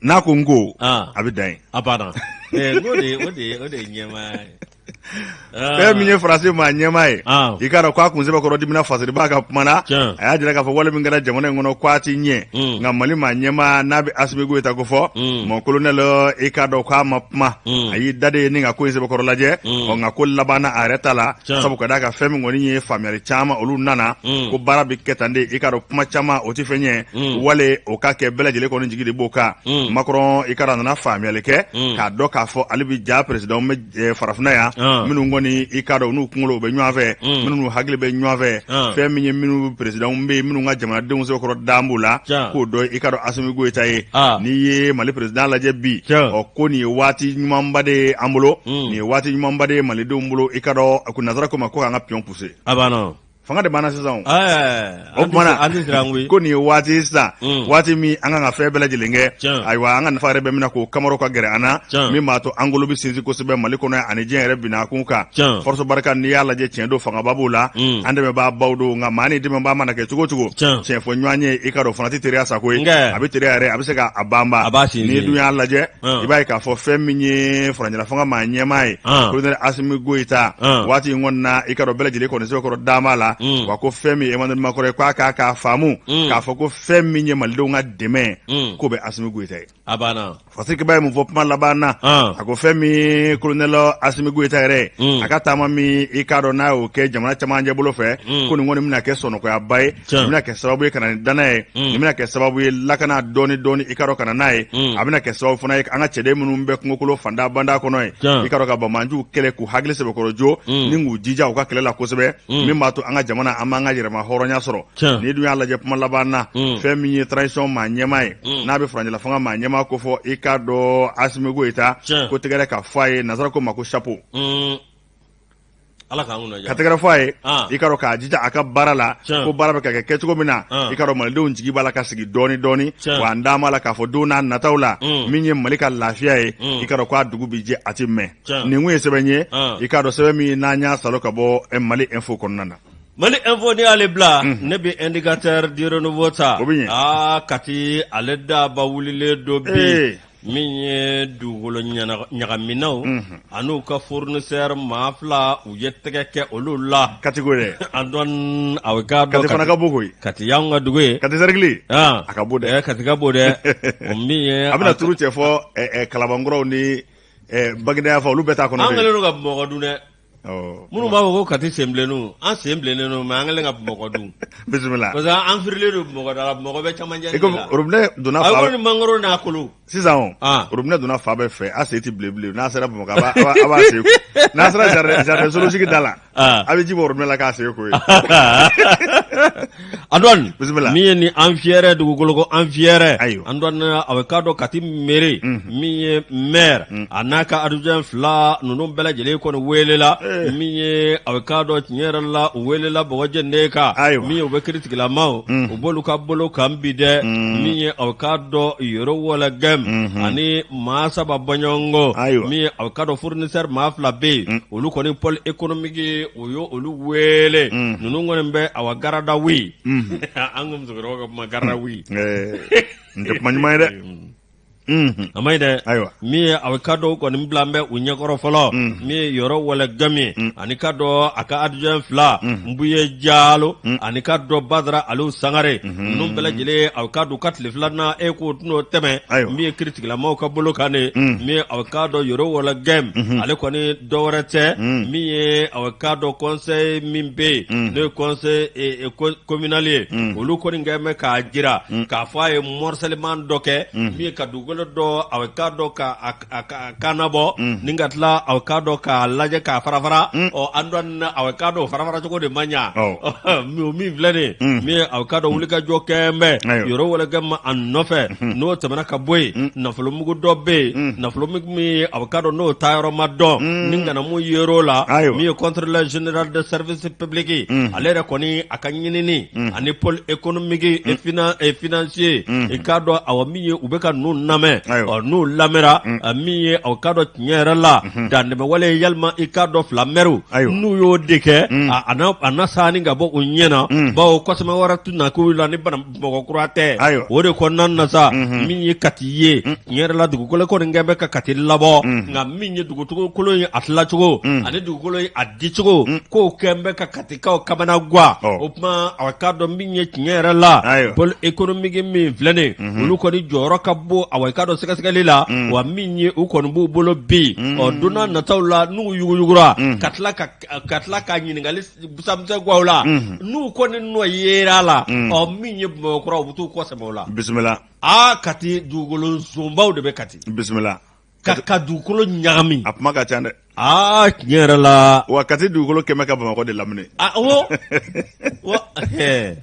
n'a ko n ko Ah. a bɛ dan yen a banna Eh, o de ye o de ye o de ye ɲɛmaaya ye fɛn min ye faransi maa ɲɛmaa ye i k'a dɔn k'a kun sɛbɛkɔrɔ dimina fasiribaa ka kuma na a y'a jira k'a fɔ wale min kɛra jamana in kɔnɔ k'a ti ɲɛ mm. nka mali maa ɲɛmaa n'a bɛ asimi goyita ko fɔ mm. mon colonel i k'a dɔn k'a ma kuma mm. a y'i da de ni ka ko in sɛbɛkɔrɔ lajɛ ɔ nka ko labanna a yɛrɛ ta la sabu ka d'a kan fɛn min kɔni ye faamuyali caman olu nana ko baara bɛ kɛ tan de i k'a dɔn kuma caman o tɛ fɛn ye wale o ka kɛ bɛɛ lajɛlen kɔni jigi de b'o kan macron i k'a dɔn a nana faamuyali kɛ k'a dɔn k'a fɔ ale bɛ ja peresidan Eh, farafinna yan ah. minnu kɔni i k'a dɔn n'u kunkolo bɛ ɲɔgɔn fɛ hmm. minnu hakili bɛ ɲɔgɔn fɛ ah. fɛn min ye minnu perezidanw bɛ yen minnu ka jamanadenw sɛbɛkɔrɔ dan b'u la k'o dɔn i k'a dɔn asimi goyita ye ah. n'i ye mali perezidan lajɛ bi ɔ ko nin ye waati ɲumanba de ye an bolo hmm. nin ye waati ɲumanba de ye malidenw bolo i k'a dɔn a ko nazara ko ma ko k'an ka piyɔn puse Fanga de b'an na sisan o tuma na an ko nin ye waati sisan waati min an kan ka fɛn bɛɛ lajɛlen kɛ ayiwa an ka nafa yɛrɛ bɛ min na k'o kama ka gɛrɛ an na min b'a to an kolo bɛ sinsin kosɛbɛ mali kɔnɔ ani diɲɛ yɛrɛ binna kun kan force barika n'i y'a lajɛ tiɲɛ don fangaba b'o la an dɛmɛbaa baw don nka maa ni dɛmɛbaa mana kɛ cogo cogo tiɲɛ fɔ ɲɔgɔn ye i k'a dɔn o fana tɛ teriya sa koyi a bɛ teriya yɛrɛ a bɛ se k'a banba n'i dun y'a lajɛ i b'a ye k'a fɔ fɛn min ye furancɛlafanga maa ɲɛmaa ye kolonɛli asimi goyita waati in kɔni na i k'a dɔn bɛɛ lajɛlen kɔni sɛbɛkɔrɔ dama la wa ko fɛn min ye emmanuel macron ye k'a k'a k'a faamu k'a fɔ ko fɛn min ye malidenw ka dɛmɛ k'o bɛ asimi goyita ye fasirikiba ye mun fɔ kuma laban na a ko fɛn min kolonɛli asimi goyita yɛrɛ a ka taama min i k'a dɔn n'a y'o kɛ jamana camancɛ bolo fɛ ko nin kɔni bɛna kɛ sɔnɔgɔyaba ye Tiɲɛ. Nin bɛna kɛ sababu ye ka na ni danaya ye Mm. nin bɛna kɛ sababu ye lakana dɔɔni dɔɔni i k'a dɔn ka na n'a ye Mm. a bɛna kɛ sababu fana ye an ka cɛden minnu bɛ kungokolo fanda banda kɔnɔ ye Tiɲɛ. i k'a dɔn ka banbaanciw kɛlɛ k'u hakili sɛbɛkɔrɔ jo Mm. ni k'u jija u ka kɛlɛ la kosɛbɛ Mm. min b'a to an ka jamana an b'an ka yɛrɛmahɔrɔnya sɔrɔ Tiɲɛ. n'i dun y'a lajɛ kuma laban na Mm. fɛn min ye transition maa ɲɛmaa ye Mm. n'a bɛ furancɛla fanga maa ɲɛmaa kofɔ i k'a dɔn asimi goyita Tiɲɛ. ko tɛgɛrɛ ka fɔ a ye nazara ko ma ko chapeau Mm, Ala ka tɛgɛrɛ fɔ a ye i k'a dɔn k'a jija a ka baara la ko baara bɛ ka kɛ kɛcogo min na i k'a dɔn malidenw jigi b'a la ka sigi dɔɔnin dɔɔnin wa an d'a ma la k'a fɔ don n'a nataw la min ye mali ka lafiya ye i k'a dɔn k'a dugu bɛ jɛ a tɛ mɛɛn nin kun ye sɛbɛn ye i k'a dɔn sɛbɛn min n'an y'a sɔrɔ ka bɔ mali info kɔnɔna na mali info ni ale bila ne bɛ indicateur du renouveau ta kati ale daba wililen don bi min ye dugukolo ɲagaminaw an'u ka fournisseur maa fila u ye tɛgɛ kɛ olu la kati ko dɛ an dɔn aw k'a dɔn kati y'an ka dugu ye kati cercle a ka bon dɛ kati ka bon dɛ a bɛna tuuru cɛ fo kalabankɔrɔw ni baginda fo olu bɛɛ ta kɔnɔ an kɛlen don ka bamakɔ dun dɛ Minnu b'a fɔ ko ka sen bilen an sen bilen an ka mɔgɔ dun bisimila parce an fililen donda mɔgɔ bɛ caman donna mangolo n'a kolo sisan donna fa bɛɛ fɛ a se tɛ bilen n'a sera bamakɔ n'a sera sigi da la a bɛ ji bɔ la k'a se ko Antoine bisimila min ye ni an fiyɛrɛ dugukolo ko an fiyɛrɛ Ayiwa. Antoine a bɛ k'a dɔn Kati mairie min ye maire an'a ka adjoint fila ninnu bɛɛ lajɛlen kɔni weelela Eh. min ye a bɛ k'a dɔn tiɲɛ yɛrɛ la u weelela bɔgɔjɛ ne kan Ayiwa. min ye u bɛ kiritigɛlamaw u b'olu ka bolo kan bi dɛ min ye a bɛ k'a dɔn Yoro Ouologuem ani maa saba bɔɲɔgɔnko Ayiwa. min ye a bɛ k'a dɔn fournisseur maa fila bɛ yen olu kɔni pôle économique o ye olu wele ninnu kɔni bɛ a wa garde à vue an ka musokɔrɔbaw ka kuma garde à vue in tɛ kuma ɲuman ye dɛ a man ɲi dɛ ayiwa min ye a bɛ k'a dɔn kɔni bila bɛ u ɲɛkɔrɔ fɔlɔ min ye Yoro Ouologuem ani k'a dɔn a ka adjoint fila Bouyé Diallo ani k'a dɔn Badara Aliou Sangaré ninnu bɛɛ lajɛlen a k'a dɔn ka tile filanan e k'o tɛn n'o tɛmɛna min ye kiritigɛlamaw ka bolo kan de min ye a k'a dɔn Yoro Ouologuem ale kɔni dɔwɛrɛ tɛ min ye a k'a dɔn conseil min bɛ yen n'o ye conseil communal ye olu kɔni kɛn bɛ k'a jira k'a fɔ a ye morcellement dɔ kɛ min ye ka dugukolo dɔ a k'a dɔn k'a kanabɔ ni ka tila a k'a dɔn k'a lajɛ k'a fara fara Antoine a bɛ k'a dɔn fara fara cogo de ma ɲa min filɛ nin min ye a k'a dɔn wulikajɔ kɛn bɛ Yoro Ouologuem a nɔfɛ n'o tɛmɛna ka bɔ yen nafolomugu dɔ bɛ yen nafolo a k'a dɔn n'o taayɔrɔ ma dɔn ni gana mun yer'o la min ye contrôleur général des services publics ale yɛrɛ kɔni a ka ɲinini ani pôle économique et financier i k'a dɔn a min ye u bɛ ka ninnu lamɛn ɔ n'u lamɛnra min ye a k'a dɔn tiɲɛ yɛrɛ la dantɛmɛwale yalima i k'a dɔn fila mɛriw n'u y'o de kɛ a na saani ka bɔ u ɲɛna bawo kɔsɛmɛ wɛrɛ tɛna k'u la ni makɔkura tɛ Ayiwa. o de kɔnɔna na sa Mhm. min ye kati ye tiɲɛ yɛrɛ la dugukolo kɔni kɛn bɛ ka kati labɔ Mhm. nka min ye dugukolo ye a tilacogo Mhm. ani dugukolo ye a dicogo ko kɛn bɛ ka katikaw kamanagwan Ɔ. o tuma a k'a dɔn min ye tiɲɛ yɛrɛ la Ayiwa. pôle économique min filɛ nin Mhm. olu kɔni jɔyɔrɔ ka bon aw k'a dɔn sɛgɛsɛgɛli la Mhm. wa min ye u kɔni b'u bolo bi Mhm. ɔ don nataw la n'u yuguyugura Mhm. ka tila ka ka tila ka ɲininkali busanmisɛn k'u la Unhun. n'u kɔni nɔ yera la Mm. ɔ min ye Bamakɔkura u bɛ t'u kɔ sɛmɛ o la bisimila aa kati dugukolo zonbaw de bɛ kati bisimila ka ka dugukolo ɲagami a kuma ka ca dɛ aa tiɲɛ yɛrɛ la wa kati dugukolo kɛmɛ ka bamakɔ de lamini a wo wa ɛɛ.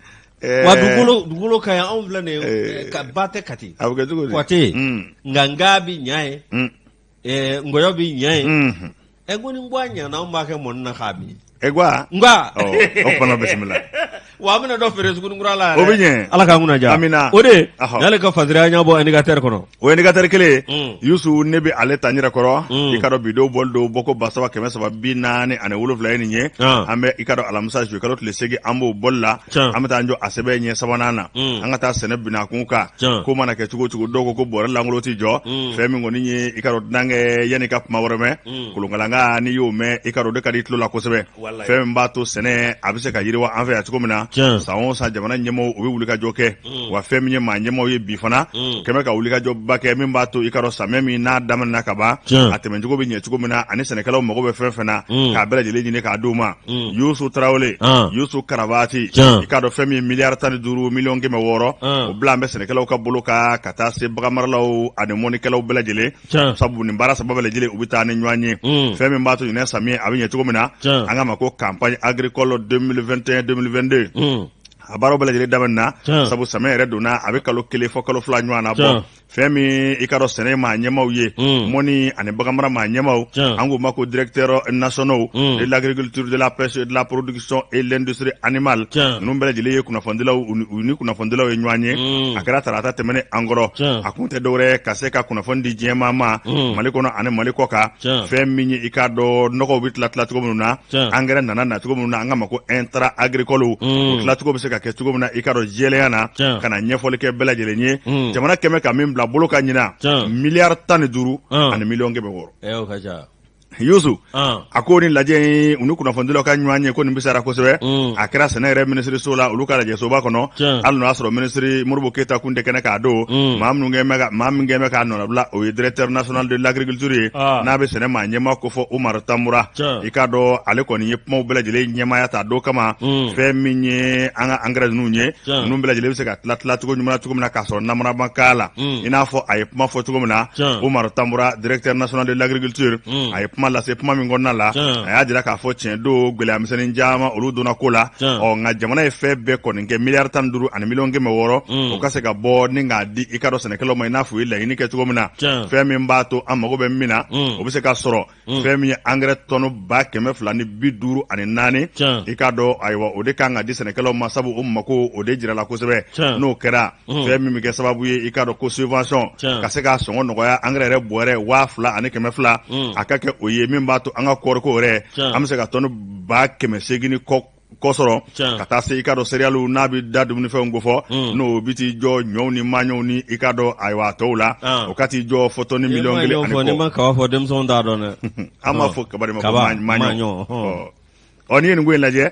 Eh, wa dugukolo dugukolo ka yan anw filɛ nin ye Eh. ka ba tɛ kati a bɛ kɛ cogo di Kɔte. Mm, nka ngan b'i ɲa ye mm. ee ngɔyɔ b'i ɲa ye Mhm. ɛ ko ni ngwan ɲana anw b'a kɛ mɔni na k'a min e ko a nka ɔ o fana bisimila wa an bɛna dɔ feere Sugunikura la yɛrɛ. O bɛ ɲɛ. ala k'an kunna diya Amina. o de Ahɔ. n'ale ka fasiriya ɲɛbɔ indicateur kɔnɔ o indicateur kelen Mm. yusu ne bɛ ale ta n yɛrɛ kɔrɔ Mm. i k'a dɔn bi don bɔli don bɔko ba saba kɛmɛ saba bi naani ani wolonwulanan ye nin ye Ah. an bɛ i k'a dɔn alamisa juillet kalo tile segin an b'o bɔli la Can. an bɛ taa an jɔ a sɛbɛn ɲɛ sabanan na Mm. an ka taa sɛnɛ binakun kan Can. ko mana kɛ cogo cogo dɔw ko ko bɔrɛ lankolon tɛ jɔ Mm. fɛn min kɔni ye i k'a dɔn dunankɛ yanni i ka kuma wɛrɛ mɛn Mm. kolonkalan kan n'i y'o mɛn i k'a dɔn o de ka di i tulo la kosɛbɛ Walayi. fɛn min b'a to sɛnɛ a bɛ se ka yiriwa an fɛ yan cogo min na Can. san o san jamana ɲɛmɔgɔw u bɛ wulikajɔ kɛ mm. wa fɛn min ye maa ɲɛmɔgɔ ye bi fana mm. kɛn bɛ ka wulikajɔba kɛ min b'a to i k'a dɔn samiyɛ min n'a daminɛna ka ban a tɛmɛcogo bɛ ɲɛ cogo min na ani sɛnɛkɛlaw mago bɛ fɛn fɛn na mm. k'a bɛɛ lajɛlen ɲini k'a d'u ma mm. yusu tarawele ah. yusu karabati i k'a dɔn fɛn min ye miliyari tan ni duuru miliyɔn kɛmɛ wɔɔrɔ ah. o bilalen bɛ sɛnɛkɛlaw ka bolo kan ka taa se baganmaralaw ani mɔnikɛlaw bɛɛ lajɛlen sabu nin baara saba bɛɛ lajɛlen u bɛ taa ni ɲɔgɔn ye mm. fɛn min b'a to ɲinɛ samiyɛ a bɛ ɲɛ cogo min na an k'a ma ko campagne agricole 2021 2022 a baaraw bɛɛ lajɛlen daminɛna Tiɲɛ. sabu samiyɛ yɛrɛ donna a bɛ kalo kelen fɔ kalo fila ɲɔgɔn na Tiɲɛ. bon fɛn min ye i k'a dɔn sɛnɛ maa ɲɛmaw ye Mm. mɔni ani baganmara maa ɲɛmaw Tiɲɛ. an k'u ma ko directeurs nationaux Mm. de l'agriculture de la pêche et de la production et l'industrie animale Tiɲɛ. ninnu bɛɛ lajɛlen ye kunnafonidilaw u ni- u ni kunnafonidilaw ye ɲɔgɔn ye Mm. a kɛra tarata tɛmɛnen an kɔrɔ Tiɲɛ. a kun tɛ dɔwɛrɛ ye ka se ka kunnafoni di diɲɛmaa ma Mm. mali kɔnɔ ani mali kɔkan Tiɲɛ. fɛn min ye i k'a dɔn nɔgɔw bɛ tila tila cogo minnu na angɛrɛ nana cogo minnu na an k'a ma ko intrants agricoles o tilacogo bɛ se ka kɛ cogo min na i k'a dɔn jɛlenya na ka na ɲɛfɔli kɛ bɛɛ lajɛlen ye mm. jamana kɛn bɛ ka min bila bolo kan ɲinan miliyari tan ni duuru ah. ani miliyɔn kɛmɛ wɔɔrɔ yusu ah. a ko nin lajɛ in u ni kunnafonidilaw ka ɲɔgɔn ye ko nin bisara kosɛbɛ mm. a kɛra sɛnɛ yɛrɛ minisiriso la olu ka lajɛsoba kɔnɔ hali n'o y'a sɔrɔ minisiri modibo keyita kun tɛ kɛnɛ kan a don mm. maa minnu kɛn bɛ maa min kɛn bɛ k'a nɔnabila o ye directeur national de l'agriculture ye ah. n'a bɛ sɛnɛ maa ɲɛma kofɔ umaru tambura i k'a dɔn ale kɔni ye kumaw bɛɛ lajɛlen ɲɛmaya ta don kama mm. fɛn min ye an ka angɛrɛ ninnu ye ninnu bɛɛ lajɛlen bɛ se ka tila tila cogo ɲuman cogo min na k'a sɔrɔ namara ma k'a la mm. i n'a fɔ a ye kuma fɔ cogo min na umaru tambura directeur national de l'agriculture mm. a ye kuma lase kuma min kɔnɔna la a y'a jira k'a fɔ tiɲɛ don gɛlɛya misɛnnin caman olu donna ko la ɔ nka jamana ye fɛn bɛɛ kɔni kɛ miliyari tan ni duuru ani miliyɔn kɛmɛ wɔɔrɔ o ka se ka bɔ ni k'a di i k'a dɔn sɛnɛkɛlaw ma i n'a fɔ u ye laɲini kɛ cogo min na fɛn min b'a to an mago bɛ min na o bɛ se ka sɔrɔ fɛn min ye angɛrɛ tɔni ba kɛmɛ fila ni bi duuru ani naani i k'a dɔn ayiwa o de kan ka di sɛnɛkɛlaw ma sabu o mako o de jirala kosɛbɛ n'o kɛra fɛn min bɛ kɛ sababu ye i k'a dɔn ko subvention ka se k'a sɔngɔ nɔgɔya angɛrɛ yɛrɛ bɔrɛ waa fila ani kɛmɛ fila a ka kɛ o ye min b'a to an ka kɔɔriko yɛrɛ an bɛ se ka tɔni ba kɛmɛ seegin ni kɔ kɔ sɔrɔ ka taa se i k'a dɔn seriyaliw n'a bɛ da dumunifɛnw kofɔ mm. n'o bɛ t'i jɔ ɲɔw ni maɲɔw ni i k'a dɔn ayiwa a tɔw la ah. o ka t'i jɔ fɔ tɔni miliyɔn kelen ani kɔ. n'i ma kaba fɔ denmisɛnw t'a dɔn dɛ. an b'a ah. fɔ kaba de ma ko maɲɔ. ɔ n'i ye nin ko in lajɛ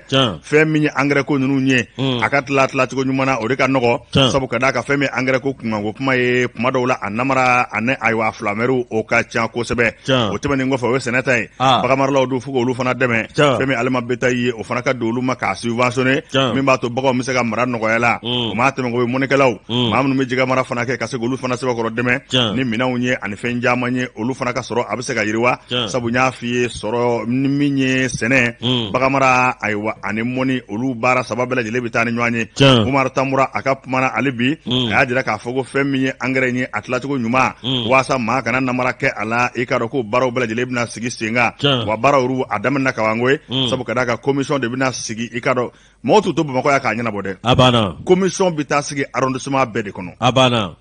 fɛn min ye angɛrɛ ko ninnu ye mm. a ka tila tila cogo ɲuman na o de ka nɔgɔ sabu ka d'a kan fɛn min ye angɛrɛ ko kunkanko kuma ye kuma dɔw la a namara ani ayiwa filamɛriw o ka ca kosɛbɛ o tɛmɛnen kɔfɛ o ye sɛnɛ ta ye Ah. baganmaralaw don fo k'olu fana dɛmɛ Tiɲɛ. fɛn min aliment bétail ye o fana ka don olu ma k'a subventionné Tiɲɛ. min b'a to baganw bɛ se ka mara nɔgɔya la Mm. o m'a tɛmɛ o ye mɔnikɛlaw Mm. maa minnu bɛ jɛgɛ mara fana kɛ ka se k'olu fana sɛbɛkɔrɔ dɛmɛ Tiɲɛ. ni minɛnw ye ani fɛn caman ye olu fana ka sɔrɔ a bɛ se ka yiriwa Tiɲɛ. sabu n y'a f'i ye sɔrɔ ni min ye sɛnɛ Mm. baganmara ayiwa ani mɔni olu baara saba bɛɛ lajɛlen bɛ taa ni ɲɔgɔn ye Tiɲɛ. Umaru Tanbura a ka kuma na hali bi Mm. a y'a jira k'a fɔ ko fɛn min ye angɛrɛ in ye a tilacogo ɲuman Mm. waasa maa kana namara kɛ a a la i k'a dɔn ko baaraw bɛɛ lajɛlen bɛna sigi sen kan wa baaraw a daminɛna kaban koyi mm. sabu ka d'a kan commission de bɛna sigi i k'a dɔn mɔgɔw t'u to Bamakɔ yan k'a ɲɛnabɔ dɛ a banna commission bɛ taa sigi arrondissement bɛɛ de kɔnɔ a banna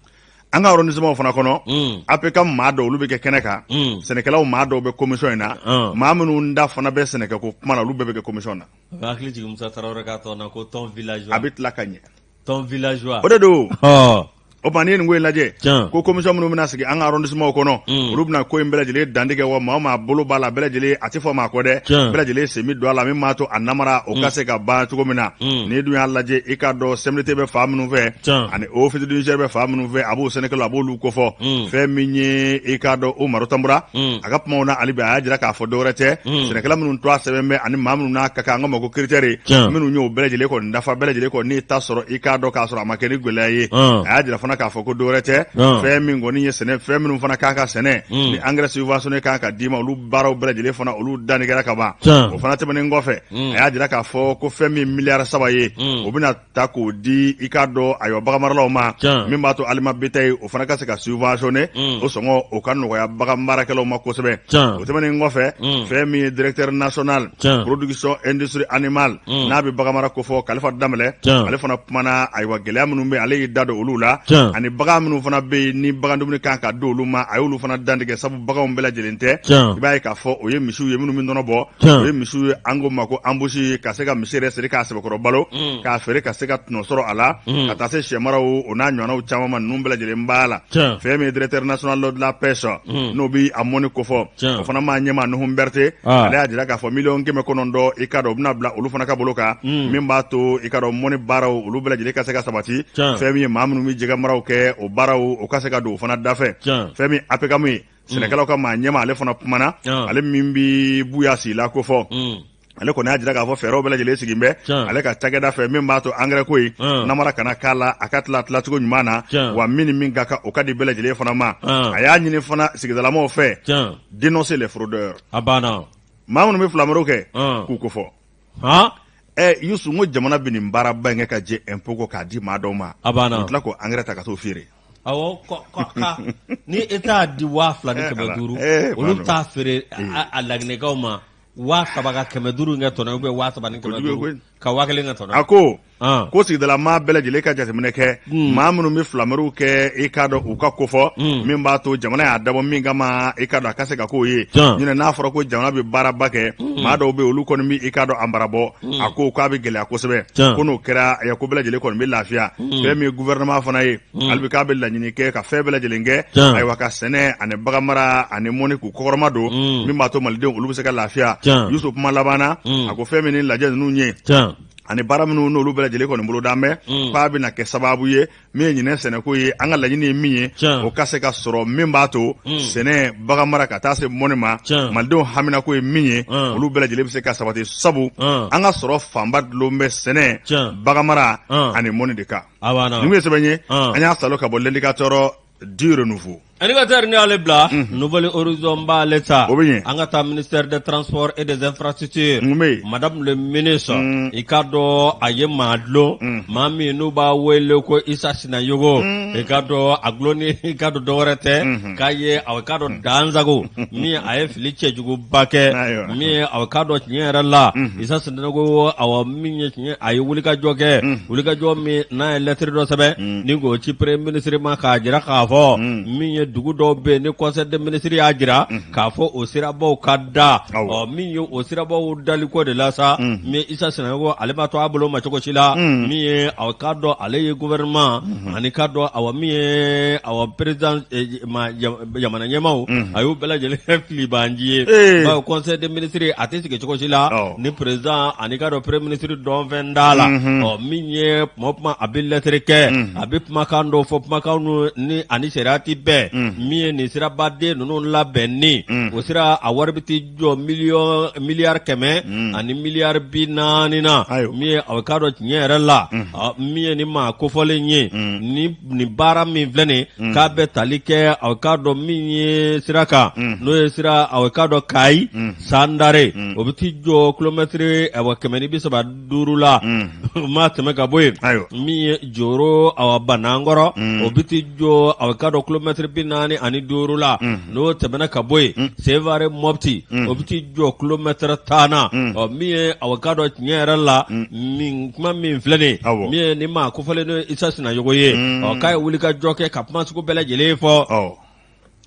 an ka arrondissement fana kɔnɔ mm. APCAM maa dɔw olu bɛ kɛ kɛnɛ kan mm. sɛnɛkɛlaw maa dɔw bɛ commission in na ah. maa minnu da fana bɛ sɛnɛkɛko kuma na olu bɛɛ bɛ kɛ commission na a bɛ tila ka ɲɛ tɔn villageois o de don ɔ o tuma n'i ye nin ko in lajɛ Tiɲɛ. ko commission minnu bɛna sigi an ka arrondissementw kɔnɔ Mm. olu bɛna ko in bɛɛ lajɛlen dantigɛ wa maa o maa bolo b'a la bɛɛ lajɛlen a tɛ fɔ maa kɔ dɛ Tiɲɛ. bɛɛ lajɛlen sen bɛ don a la min b'a to a namara o ka se ka ban cogo min na Mm. n'i dun y'a lajɛ i k'a dɔn CMDT bɛ fan minnu fɛ Tiɲɛ. ani Office du Niger bɛ fan minnu fɛ a b'o sɛnɛkɛlaw a b'olu kofɔ Mm. fɛn min ye i k'a dɔn Umaru Tanbura Mm. a ka kumaw na hali bi a y'a jira k'a fɔ dɔwɛrɛ tɛ Mm. sɛnɛkɛla minnu tɔgɔ sɛbɛn bɛ ani maa minnu n'a ka kan an k'a ma ko critère tiɲɛ, minnu y'o bɛɛ lajɛlen kɔni dafa bɛɛ lajɛlen kɔni n'i ta sɔrɔ i k'a dɔn k'a sɔrɔ a ma kɛ ni gɛlɛya ye Ɔn. a y'a jira fana k'a fɔ ko dɔwɛrɛ tɛ Ɔn. fɛn min kɔni ye sɛnɛ fɛn minnu fana kan ka sɛnɛ Mm. ni engrais subventionné kan ka d'i ma olu baaraw bɛɛ lajɛlen fana olu danni kɛra ka ban Tiɲɛ. o fana tɛmɛnen kɔfɛ Mm. a y'a jira k'a fɔ ko fɛn min miliyari saba ye Mm. o bɛna ta k'o di i k'a dɔn ayiwa baganmaralaw ma Tiɲɛ. min b'a to aliment bétail o fana ka se ka subventionner Mm. o sɔngɔ o ka nɔgɔya bagan baarakɛlaw ma kosɛbɛ Tiɲɛ. o tɛmɛnen kɔfɛ Mm. fɛn min ye directeur national Tiɲɛ. production industrie animale Mm. n'a bɛ baganmara kofɔ Kalifa Danbɛlɛ Tiɲɛ. ale fana kumana ayiwa gɛlɛya minnu bɛ ale y'i da don olu la Tiɲɛ. ani bagan minnu fana bɛ yen ni bagan dumuni kan ka di olu ma a y'olu fana dantigɛ sabu baganw bɛɛ lajɛlen tɛ Tiɲɛ. i b'a ye k'a fɔ o ye misiw ye minnu bɛ nɔnɔ bɔ Tiɲɛ. o ye misiw ye an ko ma ko embouche ka se ka misi yɛrɛ siri k'a sɛbɛ k'a feere ka se ka tɔnɔ sɔrɔ a la ka taa se sɛmara o n'a ɲɔgɔnnaw caman ninnu bɛɛ lajɛlen b'a la fɛn min ye directeur national de la pêche n'o bɛ a mɔni ko fɔ o fana maa ɲɛmaa Nuhum Berete ale y'a jira k'a fɔ miliyɔn kɛmɛ kɔnɔntɔn i k'a dɔn o bɛna bila olu fana ka bolo kan min b'a to i k'a dɔn mɔni baaraw olu bɛɛ lajɛlen ka se ka sabati fɛn min ye maa minnu bɛ jɛgɛmaraw kɛ o baaraw o ka se ka don o fana dafɛ fɛn min APCAM ye sɛnɛkɛlaw ka maa ɲɛmaa ale fana kumana ale min bɛ Buya Sila ko fɔ ale kɔni y'a jira k'a fɔ fɛɛrɛw bɛɛ lajɛlen sigilen bɛ ale ka cakɛda fɛ min b'a to angɛrɛ ko ye namara kana k'a la a ka tila tilacogo ɲuman na wa min ni min ka kan o ka di bɛɛ lajɛlen fana ma a y'a ɲini fana sigidalamaw fɛ dénoncer les fraudeurs a banna maa minnu bɛ filamariw kɛ k'u kofɔ ɛ yusu ko jamana bɛ nin baaraba in kɛ ka jɛ ɛnpo kɔ k'a di maa dɔw ma a banna u tila k'o angɛrɛ ta ka t'o feere awɔ ni État y'a di waa fila ni kɛmɛ duuru olu bɛ t'a feere a laginɛkaw ma Waa saba ka kɛmɛ duuru in kɛ tɔnɔ ye ou bien waa saba ni kɛmɛ Kojugu ye duuru koyi. ka waa kelen kɛ tɔnɔ ye a ko Ɔn. ko sigidala maa bɛɛ lajɛlen ka jateminɛ kɛ Hmm. maa minnu bɛ filamariw kɛ i k'a dɔn u ka kofɔ Hmm. min b'a to jamana y'a dabɔ min kama i k'a dɔn a ka se ka k'o ye Tiɲɛ. ɲinɛ n'a fɔra ko jamana bɛ baaraba kɛ Hmm. maa dɔw bɛ yen, olu kɔni bɛ i k'a dɔn namara bɔ Hmm. a ko k'a bɛ gɛlɛya kosɛbɛ Tiɲɛ. ko n'o kɛra eh, ko bɛɛ lajɛlen kɔni bɛ lafiya Hmm. fɛn min ye gouvernement fana ye Mm. hali bi k'a bɛ laɲini kɛ ka fɛn bɛɛ lajɛlen kɛ ayiwa ka sɛnɛ ani baganmara ani mɔni k'u kɔkɔrɔma don mm. min b'a to malidenw olu bɛ se ka lafiya yusu kuma laban na mm. a ko fɛn min ni lajɛ ninnu ye ani baara minnu n'olu bɛɛ lajɛlen kɔni bolodalen bɛ k'a bɛna kɛ sababu ye min ye ɲinɛ sɛnɛko ye an ka laɲini ye min ye o ka se ka sɔrɔ min b'a to sɛnɛ baganmara ka taa se mɔni ma malidenw haminako ye min ye olu bɛɛ lajɛlen bɛ se ka sabati sabu an ka sɔrɔ fanba dulon bɛ sɛnɛ baganmara ani mɔni de kan nin ye sɛbɛn ye an y'a salo ka bɔ L'Indicateur du Renouveau Indicateur ni ale bila Nouvel Horizon b'ale ta o bɛ an ka taa ministère des transports et des infrastructures madame le ministre i k'a dɔn a ye maa dulon maa min n'u b'a wele ko Isa Sinayogo i k'a dɔn a dulonni i k'a dɔn dɔwɛrɛ tɛ k'a ye a k'a dɔn dansagon min a ye fili cɛjuguba kɛ Ayiwa. min a k'a dɔn tiɲɛ yɛrɛ la Isa Sinayogo awa min ye tiɲɛ a ye wulikajɔ kɛ wulikajɔ min n'a ye lettre dɔ sɛbɛn ni k'o ci premier ministre ma k'a jira k'a fɔ min ye dugu dɔw bɛ yen ni conseil des ministres y'a jira k'a fɔ o sirabaw ka da Awa. ɔ min ye o sirabaw daliko de la sa min Isa Sinayogo ale ma to a bolo ma cogo si la min ye a k'a dɔn ale ye gouvernement Ani ka dɔn awa min ye awa president e ma ja jamana ɲɛmaaw unhun a y'u bɛɛ lajɛlen kɛ filibaanci ye ee bawo conseil des ministres a tɛ sigi cogo si la awɔ ni president ani ka dɔn premier ministre dɔnfɛn t'a la unhun ɔ min ye tuma o tuma a bɛ lɛtɛrɛ kɛ unhun a bɛ kumakan dɔw fɔ kumakan ninnu ni ani sariya tɛ bɛn unhun min ye nin sirabaden ninnu labɛnni unhun o sira a wari bɛ t'i jɔ miliyɔn miliyari kɛmɛ ani miliyari bi naani na Ayiwa. min ye aw k'a dɔn tiɲɛ yɛrɛ la a, min ye nin maa kofɔlen ye ni nin baara min filɛ nin ye k'a bɛ tali kɛ aw k'a dɔn min ye sira kan n'o ye sira aw k'a dɔn Kayi Sandare o bɛ t'i jɔ kilomɛtiri awɔ kɛmɛ ni bi saba duuru la o ma tɛmɛ ka bɔ yen min ye joro a banankɔrɔ o bɛ t'i jɔ a ka dɔn kulomɛtiri bi naani ani duuru la n'o tɛmɛna ka bɔ yen sevare mɔti o bɛ t'i jɔ kulomɛtiri tan na min ye a ka dɔn tiɲɛ yɛrɛ la min kuma min filɛ nin min ye nin maa kofɔlen n'o isa sinayogo ye ɔ k'a ye wulikajɔ kɛ ka kuma sugu bɛɛ lajɛlen fɔ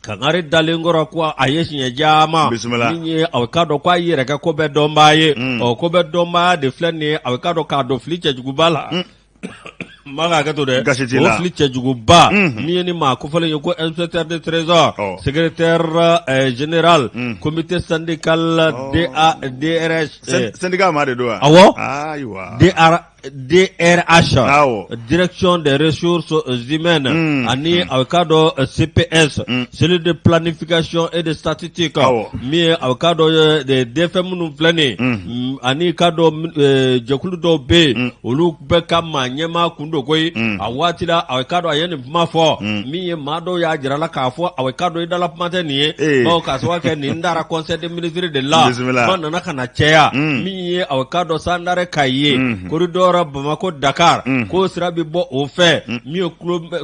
Kangari dalen kɔrɔ ko a ye siɲɛ caman bisimila min ye a k'a dɔn k'a yɛrɛ kɛ ko bɛɛ dɔnbaa ye Mm. ɔ ko bɛɛ dɔnbaa de filɛ nin ye a k'a dɔn k'a dɔn fili cɛjuguba la n b'a ka hakɛ to dɛ Gasi t'i o la. fili cɛjuguba Mhm. min ye ni maa kofɔlen ye ko inspecteur de trésor Ɔ. secrétaire euh, général Mm. comité syndical Ɔ. DA DRH Sen- eh, syndicat maa de don wa Awɔ. ayiwa DR DRH awɔ direction des ressources humaines Mm, ani a bɛ k'a dɔn eh, CPS Mm. cellule de planification et de statistique Awɔ. min ye a bɛ k'a dɔn eh, de DFM minnu filɛ nin ye Mm. mm, ani k'a dɔn min- eh, jɛkulu dɔw bɛ yen Mm. olu bɛɛ ka maa ɲɛmaa kun don koyi Mm. a waati la a bɛ k'a dɔn a ye nin kuma fɔ Mm. min ye maa dɔw y'a jira a la k'a fɔ a bɛ k'a dɔn i dala kuma tɛ nin ye Eh. bawo k'a sababu kɛ nin taara conseil des ministres de la Bisimila. kuma nana ka na caya Mm. min ye a k'a dɔn sandare kayi corridor bamakɔ dakari k'o sira bɛ bɔ o fɛ min ye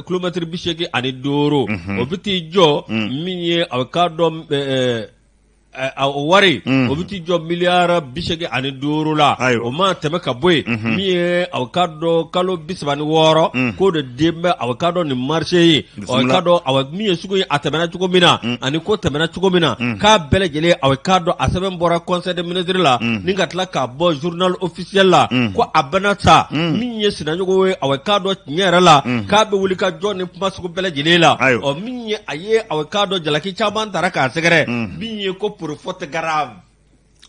kulomɛtiri bi segin ani duuru o bɛ t'i jɔ min ye a k'a dɔn o wari o bɛ t'i jɔ miliyara bi segin ani duuru la o ma tɛmɛ ka bɔ yen min ye a k'a dɔn kalo bi saba ni wɔɔrɔ k'o de den bɛ a k'a dɔn nin marché ye ka dɔn min ye sugu ye a tɛmɛna cogo min na ani ko tɛmɛna cogo min na k'a bɛɛ lajɛlen a k'a dɔn a sɛbɛn bɔra conseil des ministres la ni ka tila k'a bɔ journal officiel la ko a banna sa min ye sinayogo ye a k'a dɔn tiɲɛ yɛrɛ la k'a bɛ wuli ka jɔ ni kuma sugu bɛɛ lajɛlen la ɔ min ye a ye a k'a dɔn jalaki caman taara k'a sɛgɛrɛ min ye ko pour faute gra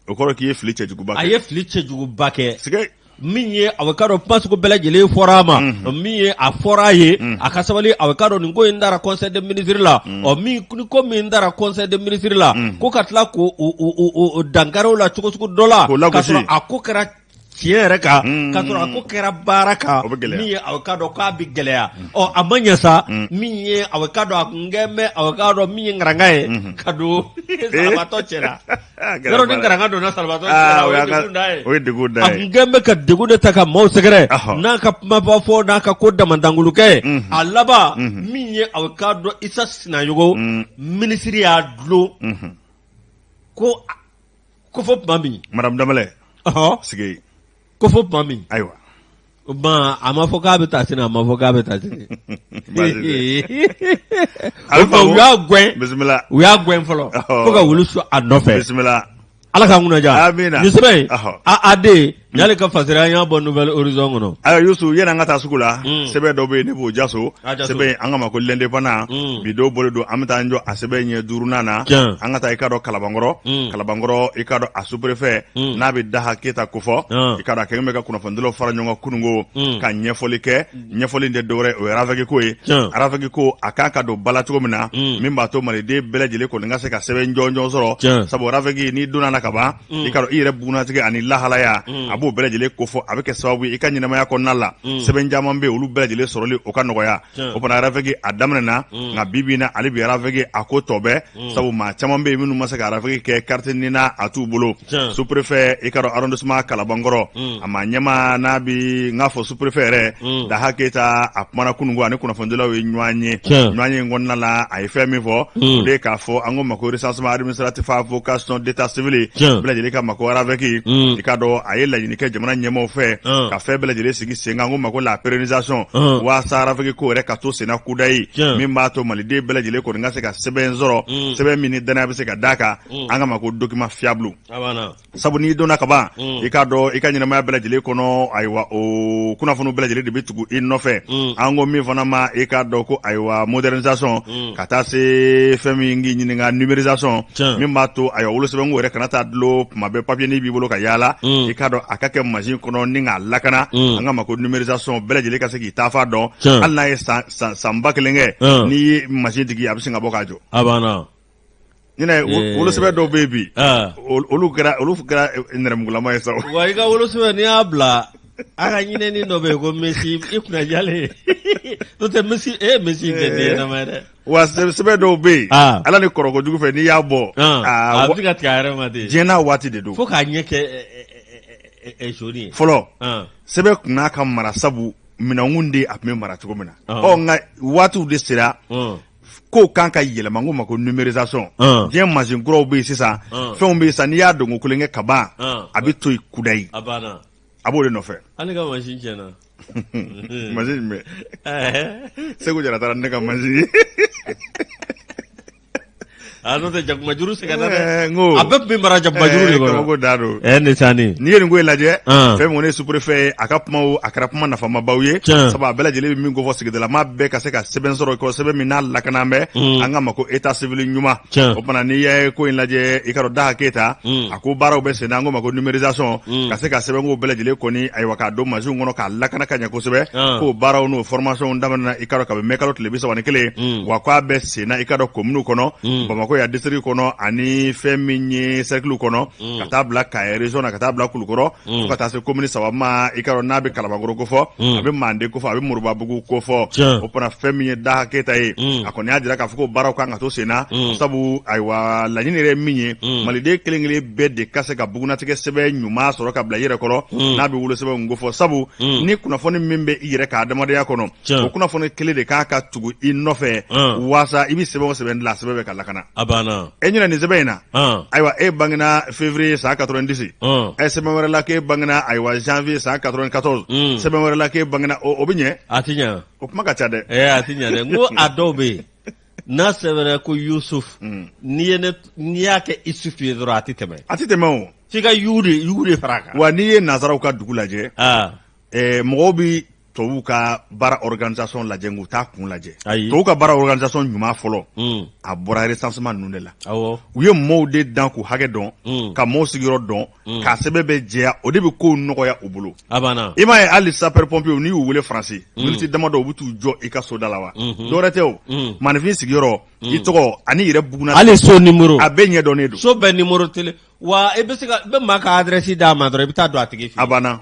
o kɔrɔ k'i ye fili cɛjuguba kɛ a ye fili cɛjuguba kɛ sɛgɛ min ye a ka dɔn kuma sugu bɛɛ lajɛlen fɔra a ma min ye a fɔra a ye a ka sabali a ka dɔn nin ko in taara conseil des ministres la ɔ min ko min taara conseil des ministres la ko ka tila ka dankari o la cogocogo dɔ la ka sɔrɔ a ko kɛra tiɲɛ yɛrɛ kan mm. ka sɔrɔ a ko kɛra baara kan min ye aw ka dɔn k'a bɛ gɛlɛya mm. ɔ a ma ɲɛ sa mm. min ye aw ka dɔn a kun kɛn bɛ aw ka dɔn min ye ngaranga ye mm-hmm. ka don eh? salabaatɔ cɛ la yɔrɔ ni ngaranga donna salabaatɔ cɛ la ah, o ye degun da ye o ye degun da ye a kun kɛn bɛ ka degun de ta ka maaw sɛgɛrɛ n'a ka kumaba fɔ n'a ka ko damadangolokɛ ye mm-hmm. a laban mm-hmm. min ye aw ka dɔn isa sinayogo minisiri y'a dulon ko ko fo tuma min madame Danbɛlɛ ɔhɔ sigi yen ko fo tuma min ayiwa o tuma a ma fɔ k'a bɛ taa sini a ma fɔ k'a bɛ taa sini Baasi tɛ. A bɛ o tuma faamu. u y'a gɛn bisimila u y'a gɛn fɔlɔ Ɔhɔ. fo ka wulu su a nɔfɛ bisimila ala k'an kunnaja Amina. nin sɛbɛn in Ɔhɔ. a a den N'ale ka fasiri a y'a bɔ nouvel horizon kɔnɔ ayiwa yusu yen na an ka taa sugu la sɛbɛn dɔ bɛ yen ne b'o jaso sɛbɛn an ka ma ko l'indépendant bi dɔ bɔlen don an bɛ taa jɔ a sɛbɛn ɲɛ duuru na an ka taa i k'a dɔn kalabankɔrɔ kalabankɔrɔ i k'a dɔn a superefe n'a bɛ daha keyita kofɔ i k'a dɔn a kɛ bɛ ka kunnafonidilaw fara ɲɔgɔn kan kunun ko ka ɲɛfɔli kɛ ɲɛfɔli tɛ dɔwɛrɛ o yefeko ye arafeki ko a ka kan ka don ba la cogo min na min b'a to maliden bɛɛ lajɛlen kɔni ka se ka sɛbɛn jɔnjɔn sɔrɔ sabu arafeki n'i donna na ka ban i k'a dɔn i yɛrɛ bugunnatigɛ ani lahalaya a b'o bɛɛ lajɛlen kofɔ a bɛ kɛ sababu ye i ka ɲɛnamaya kɔnɔna la sɛbɛn caman bɛ olu bɛɛ lajɛlen sɔrɔli o ka nɔgɔya o fana arafege a daminɛ na nka bi bi in na hali bi arafege a ko tɔ bɛ sabu maa caman bɛ yen minnu ma se ka arafege kɛ kariti nina a t'u bolo superefe i k'a dɔn arrondissement kalabankɔrɔ a ma ɲɛmaa n'a bi n'a fɔ perefe yɛrɛ mm. daha keyita a kumana kunun ani kunnafonidilaw ye ɲɔgɔn ye ɲɔgɔn ye kɔnɔna la a ye fɛn min fɔ mm. o de k'a fɔ an ko ma ko recensement administratif à vocation d'état civil bɛɛ lajɛlen ka ma ko arafeki mm. i k'a dɔn a ye laɲini kɛ jamana ɲɛmɔgɔ fɛ ka fɛn bɛɛ lajɛlen sigi sen kan ko ma ko la pérennisation waasa arafeki ko yɛrɛ ka to senna kudayi min b'a to maliden bɛɛ lajɛlen kɔni ka se ka sɛbɛn sɔrɔ sɛbɛn min ni dannaya bɛ se ka da a kan an ka ma ko document fiable sabu n'i donna ka ban mm. i k'a dɔn i ka ɲɛnamaya bɛɛ lajɛlen kɔnɔ ayiwa o kunnafoni bɛɛ lajɛlen de bɛ tugu i nɔfɛ mm. an ko min fana ma i k'a dɔn ko ayiwa modernisation mm. ka taa se fɛn min k'i ɲininka numérisation min b'a to ayiwa wolosɛbɛnko yɛrɛ kana taa dulon tuma bɛɛ papiye nin b'i bolo ka yaala i k'a dɔn a ka kɛ mansin kɔnɔ ni k'a lakana an ka ma ko numérisation bɛɛ lajɛlen ka se k'i taafan dɔn hali n'a ye san ba kelen kɛ n'i ye mansin digi a bɛ sin ka bɔ k'a jɔ ɲinɛ Ee. wolosɛbɛn dɔw bɛ yen bi Ah. ol- olu kɛra olu kɛra eh, nɛrɛmugulama ye sa o. wa i ka wolosɛbɛn n'i y'a bila a ka ɲinɛni dɔ bɛ yen ko mesi i kunna jalen n'o tɛ mesi e ye mesi in kɛ den ɲɛnama ye dɛ wa sɛ- sɛbɛn dɔw bɛ yen Ah. ala ni kɔrɔko jugu fɛ n'i y'a bɔ Ah, aa, a wa- bɛ ka tigɛ a yɛrɛ ma ten diɲɛ n'a waati de don fo k'a ɲɛ kɛ ɛ, ɛ, ɛ, ɛ, ɛ, zoni ye fɔlɔ Ah, sɛbɛn kun n'a ka mara sabu minɛnkun de a tun bɛ mara cogo min na Ah. ɔ nka waatiw de sera ah. kow kan ka yɛlɛma an ko ma ko numérisation uh. diɲɛ mansin kuraw bɛ yen sisan uh. fɛnw bɛ yen sisan n'i y'a don ko kelen kɛ ka ban uh. a bɛ to yen kudayi a banna a b'o de nɔfɛ hali n'i ka mansin tiɲɛna mansin jumɛn seku jara taara ne ka mansin ye A n'o tɛ jakumajuru sɛgɛn na dɛ, Ɛɛ, n ko- a bɛɛ tun bɛ mara jakumajuru de Ɛɛ, kɔnɔ kabako da don. ɛɛ nin sa nin n'i ye nin ko in lajɛ An. fɛn min kɔni ye superefe ye a ka kumaw a kɛra kuma nafamabaw ye Tiɲɛ. sabu a bɛɛ lajɛlen bɛ min kofɔ sigidalama bɛɛ ka se ka sɛbɛn sɔrɔ ko sɛbɛn min n'a lakana bɛ Mm. an ka ma ko eta sivili ɲuman Tiɲɛ. o tuma na n'i ye ko in lajɛ i k'a dɔn daha keyita Mm. a ko baaraw bɛ sen na an ko ma ko numérisation Mm. ka se ka sɛbɛnkow bɛɛ lajɛlen kɔni ayiwa k'a don mansinw kɔnɔ k'a lakana ka ɲɛ kosɛbɛ An. k'o baaraw n'o formationw daminɛna i k'a dɔn kabini mɛkalo tile bi saba ni kelen Mm. wa k'a bɛ senna i ka dɔn komini kɔnɔ mm. bamakɔ ya district kɔnɔ ani fɛn min ye sɛrɛkiliw kɔnɔ mm. ka taa bila kayi rezɔn na ka taa bila kulukɔrɔ mm. fo ka taa se komini saba ma i ka dɔn n'a bɛ kalabankɔrɔ kofɔ a bɛ manden kofɔ a bɛ moribabugu kofɔ o fana fɛn min ye daha keyita ye a kɔni y'a jira k'a fɔ ko baaraw kan ka to senna sabu ayiwa laɲini yɛrɛ min ye maliden kelen kelen bɛɛ de ka se ka bugunatigɛ sɛbɛn ɲuman sɔrɔ ka bila i yɛrɛ kɔrɔ n'a bɛ wolosɛbɛn kofɔ sabu ni kunnafoni min bɛ i yɛrɛ ka adamadenya kɔnɔ o kunnafoni kelen de kan ka tugu i nɔfɛ walasa i bɛ sɛbɛn o sɛbɛn dilan sɛbɛn bɛɛ ka lakana e ɲɛna nin sɛbɛn in na ayiwa e bangena février san quatre-vingt-dix sɛbɛn wɛrɛ la k'e bangena ayiwa janvier san quatre-vingt-quatorze sɛbɛn wɛrɛ la k'e bangena o bɛ ɲɛ a tɛ ɲɛ o kuma ka ca dɛ a tɛ ɲɛ dɛ ko a dɔw bɛ yen n'a sɛbɛnna ko yusufu n'i ye n'i y'a kɛ isufu ye dɔrɔn a tɛ tɛmɛ a tɛ tɛmɛ f'i ka yu de fara a kan wa n'i ye nansaraw ka dugu lajɛ mɔgɔw bɛ tubabuw ka baara organisation lajɛ u t'a kun lajɛ tubabuw ka baara organisation ɲuman fɔlɔ hmm. a bɔra recensement ninnu de la u ye mɔɔw de dan k'u hakɛ dɔn hmm. ka mɔɔw sigiyɔrɔ dɔn hmm. k'a sɛbɛn bɛɛ jɛya o de bɛ kow nɔgɔya u bolo i m'a ye hali sapeur pompier n'i y'u wele faransi miniti damadɔ u bɛ t'u jɔ i ka soda la wa dɔwɛrɛ tɛ o maaninfin sigiyɔrɔ i tɔgɔ ani i yɛrɛ bugunna hali so nimoro a bɛɛ ɲɛdɔnnen don so bɛɛ nimorotelen wa i bɛ se ka i bɛ maa ka adrɛsi d'a ma dɔrɔn i bɛ taa don a tigi fɛ a banna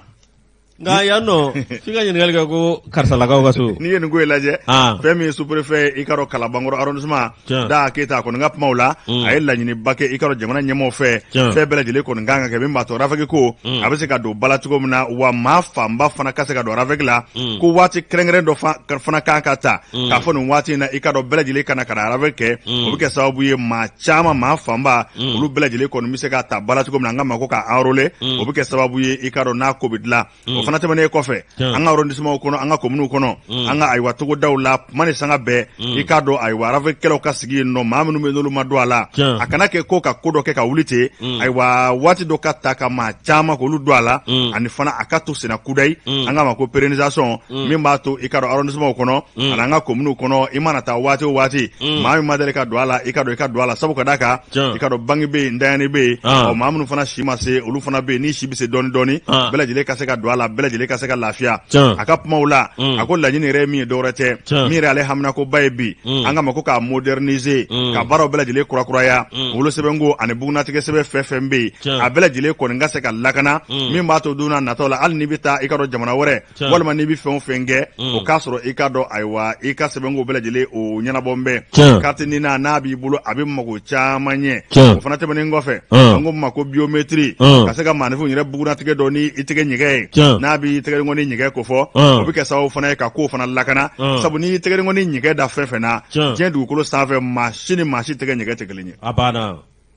Nka yan nɔ f'i ka ɲininkali kɛ ko karisalakaw ka so n'i ye nin ko in lajɛ An. fɛn min ye sous-préfet ye i ka dɔn kalabankɔrɔ arrondissement Tiɲɛ. da keyita a kɔni ka kumaw la Mm. a ye laɲiniba kɛ i ka dɔn jamana ɲɛmɔgɔw fɛ Tiɲɛ. fɛn bɛɛ lajɛlen kɔni kan ka kɛ min b'a to rafɛki ko Mm. a bɛ se ka don ba la cogo min na wa maa fanba fana ka se ka don rafɛki la Mm. ko waati kɛrɛnkɛrɛn dɔ fa- ka- fana kan ka ta Mm. k'a fɔ nin waati in na i ka dɔn bɛɛ lajɛlen ka na ka na rafɛki kɛ Mm. o bɛ kɛ sababu ye maa caman maa fanba mm. olu bɛɛ lajɛlen kɔni bɛ se ka ta ba la cogo min na an ka ma ko ka enrôler mm. o bɛ kɛ sababu ye i k'a dɔn n'a ko bɛ dilan mm. o fana tɛmɛnen kɔfɛ an ka arrondissementw kɔnɔ an ka kominiw kɔnɔ an ka ayiwa togodaw la kuma ni sanga bɛɛ i k'a dɔn ayiwa rafɛkikɛlaw ka sigi yen nɔ maa minnu bɛ n'olu ma don a la a kana kɛ ko ka ko dɔ kɛ ka wuli ten ayiwa waati dɔ ka ta ka maa caman k'olu don a la ani fana a ka to senna kudayi an ka ma ko pérennisation min b'a to i k'a dɔn arrondissementw kɔnɔ Mm. an'an ka kominiw kɔnɔ i mana taa waati o waati mm. maa min ma deli ka don a la i ka dɔn i ka don a la sabu ka da kan i ka dɔn bange bɛ yen ntanyani bɛ yen ah. ɔ maa minnu fana si ma se olu fana bɛ yen ni si bɛ se dɔɔni dɔɔni ah. bɛɛ lajɛlen ka se ka don a la bɛɛ lajɛlen ka se ka lafiya a ka kumaw la mm. a ko laɲini yɛrɛ ye min ye dɔwɛrɛ tɛ min yɛrɛ ale haminankoba ye bi an ka ma ko k'a moderniser ka baaraw bɛɛ lajɛlen kurakuraya wolosɛbɛnko ani bugunnatigɛ sɛbɛn fɛn o fɛn bɛ yen a bɛɛ lajɛlen kɔni ka se ka lakana min b'a to don n'a nataw la hali n'i bɛ taa i ka dɔn jamana wɛrɛ walima n'i bɛ fɛn o fɛn kɛ mm. o k'a sɔrɔ i k'a dɔn ayiwa i ka sɛbɛnko bɛɛ lajɛlen o ɲɛnabɔlen bɛ carte nina n'a b'i bolo a bɛ mago caman ɲɛ o fana tɛmɛnen kɔfɛ mm. an ko min ma ko biyometiri mm. ka se ka maaninfin yɛrɛ bugunatigɛ dɔn ni i tɛgɛ ɲɛgɛn ye n'a b'i tɛgɛnkɔni ɲɛgɛn kofɔ o bɛ kɛ sababu fana ye ka kow fana lakana sabu n'i tɛgɛnkɔni ɲɛgɛn da fɛn fɛn na diɲɛ dugukolo sanfɛ maa si ni maa si tɛgɛ ɲɛgɛn tɛ kelen ye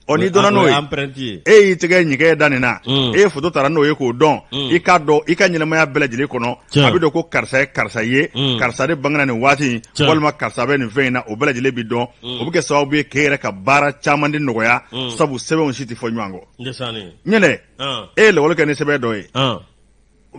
ɔ n'i donna n'o ye empreinte ye e y'i tɛgɛ ɲɛgɛn da nin na mm. e ye foto taara n'o ye k'o dɔn mm. i k'a dɔn i ka ɲɛnamaya bɛɛ lajɛlen kɔnɔ a bɛ dɔn ko karisa ye karisa ye mm. karisa de bangena nin waati in walima karisa bɛ nin fɛn in na o bɛɛ lajɛlen bɛ dɔn o bɛ kɛ sababu ye k'e yɛrɛ ka baara caman de nɔgɔya sabu sɛbɛnw si tɛ fɔ ɲɔgɔn kɔ ɲɛnɛ ah. e ye lakɔli kɛ ni sɛbɛn dɔ ye ah.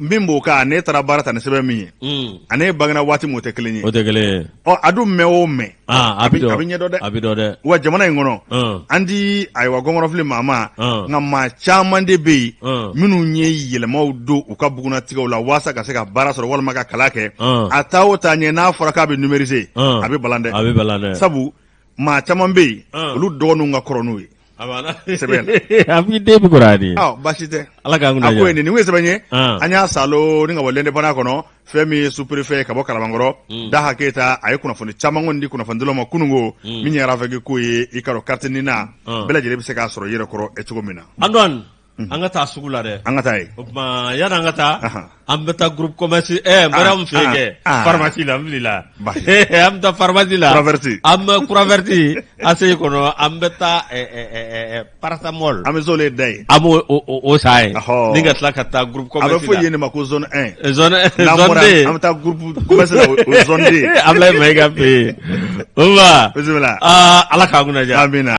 min b'o kan ne taara baara ta ni sɛbɛn min ye mm. ani ne bangena waati min o tɛ kelen ye o tɛ kelen ye ɔ a dun mɛn o mɛn ah, a bɛ ɲɛdɔn dɛ a bɛ dɔn dɛ wa jamana in kɔnɔ mm. an tɛ ayiwa gɔngɔrɔ fili maa ma mm. nka maa caman de bɛ yen minnu ye yɛlɛmaw don u ka bugunnatigɛw la walasa ka se ka baara sɔrɔ walima ka kalan kɛ a taa o taa ɲɛ n'a fɔra k'a bɛ numeriser a bɛ balan dɛ a bɛ balan dɛ sabu maa caman bɛ yen olu dɔgɔninw ka kɔrɔ n'u ye A banna sɛbɛn a b'i den bɛ kɔrɔ de baasi tɛ ala ka a ko nin ye sɛbɛn ye an y'a sɔrɔ ni ka bɔ L'Indépendant kɔnɔ fɛn min ye sous-préfet ye ka bɔ Kalabankɔrɔ Daha Keyita a ye kunnafoni caman kɔni di kunnafonidilaw ma kunun ko min ye RAVEC ko ye i k'a dɔn carte nina bɛɛ lajɛlen bɛ se k'a sɔrɔ i yɛrɛ kɔrɔ cogo min na an ka taa sugu la dɛ an ka taa o tuma yani an ka taa an bɛ taa groupe commerce ɛɛ Mariyamu fɛ kɛ pharmacie la alhamdulila an bɛ taa pharmacie la an bɛ croix verte ACI kɔnɔ an bɛ taa paracetamol an bɛ zone da yen an b'o o san yen ni ka tila ka taa groupe commerce la a bɛ fɔ yen de ma ko zone un zone un zone deux an bɛ taa groupe commerce la o zone deux Ablaye Mayiga fɛ yen o ma bisimila ala k'an kunna diya amina.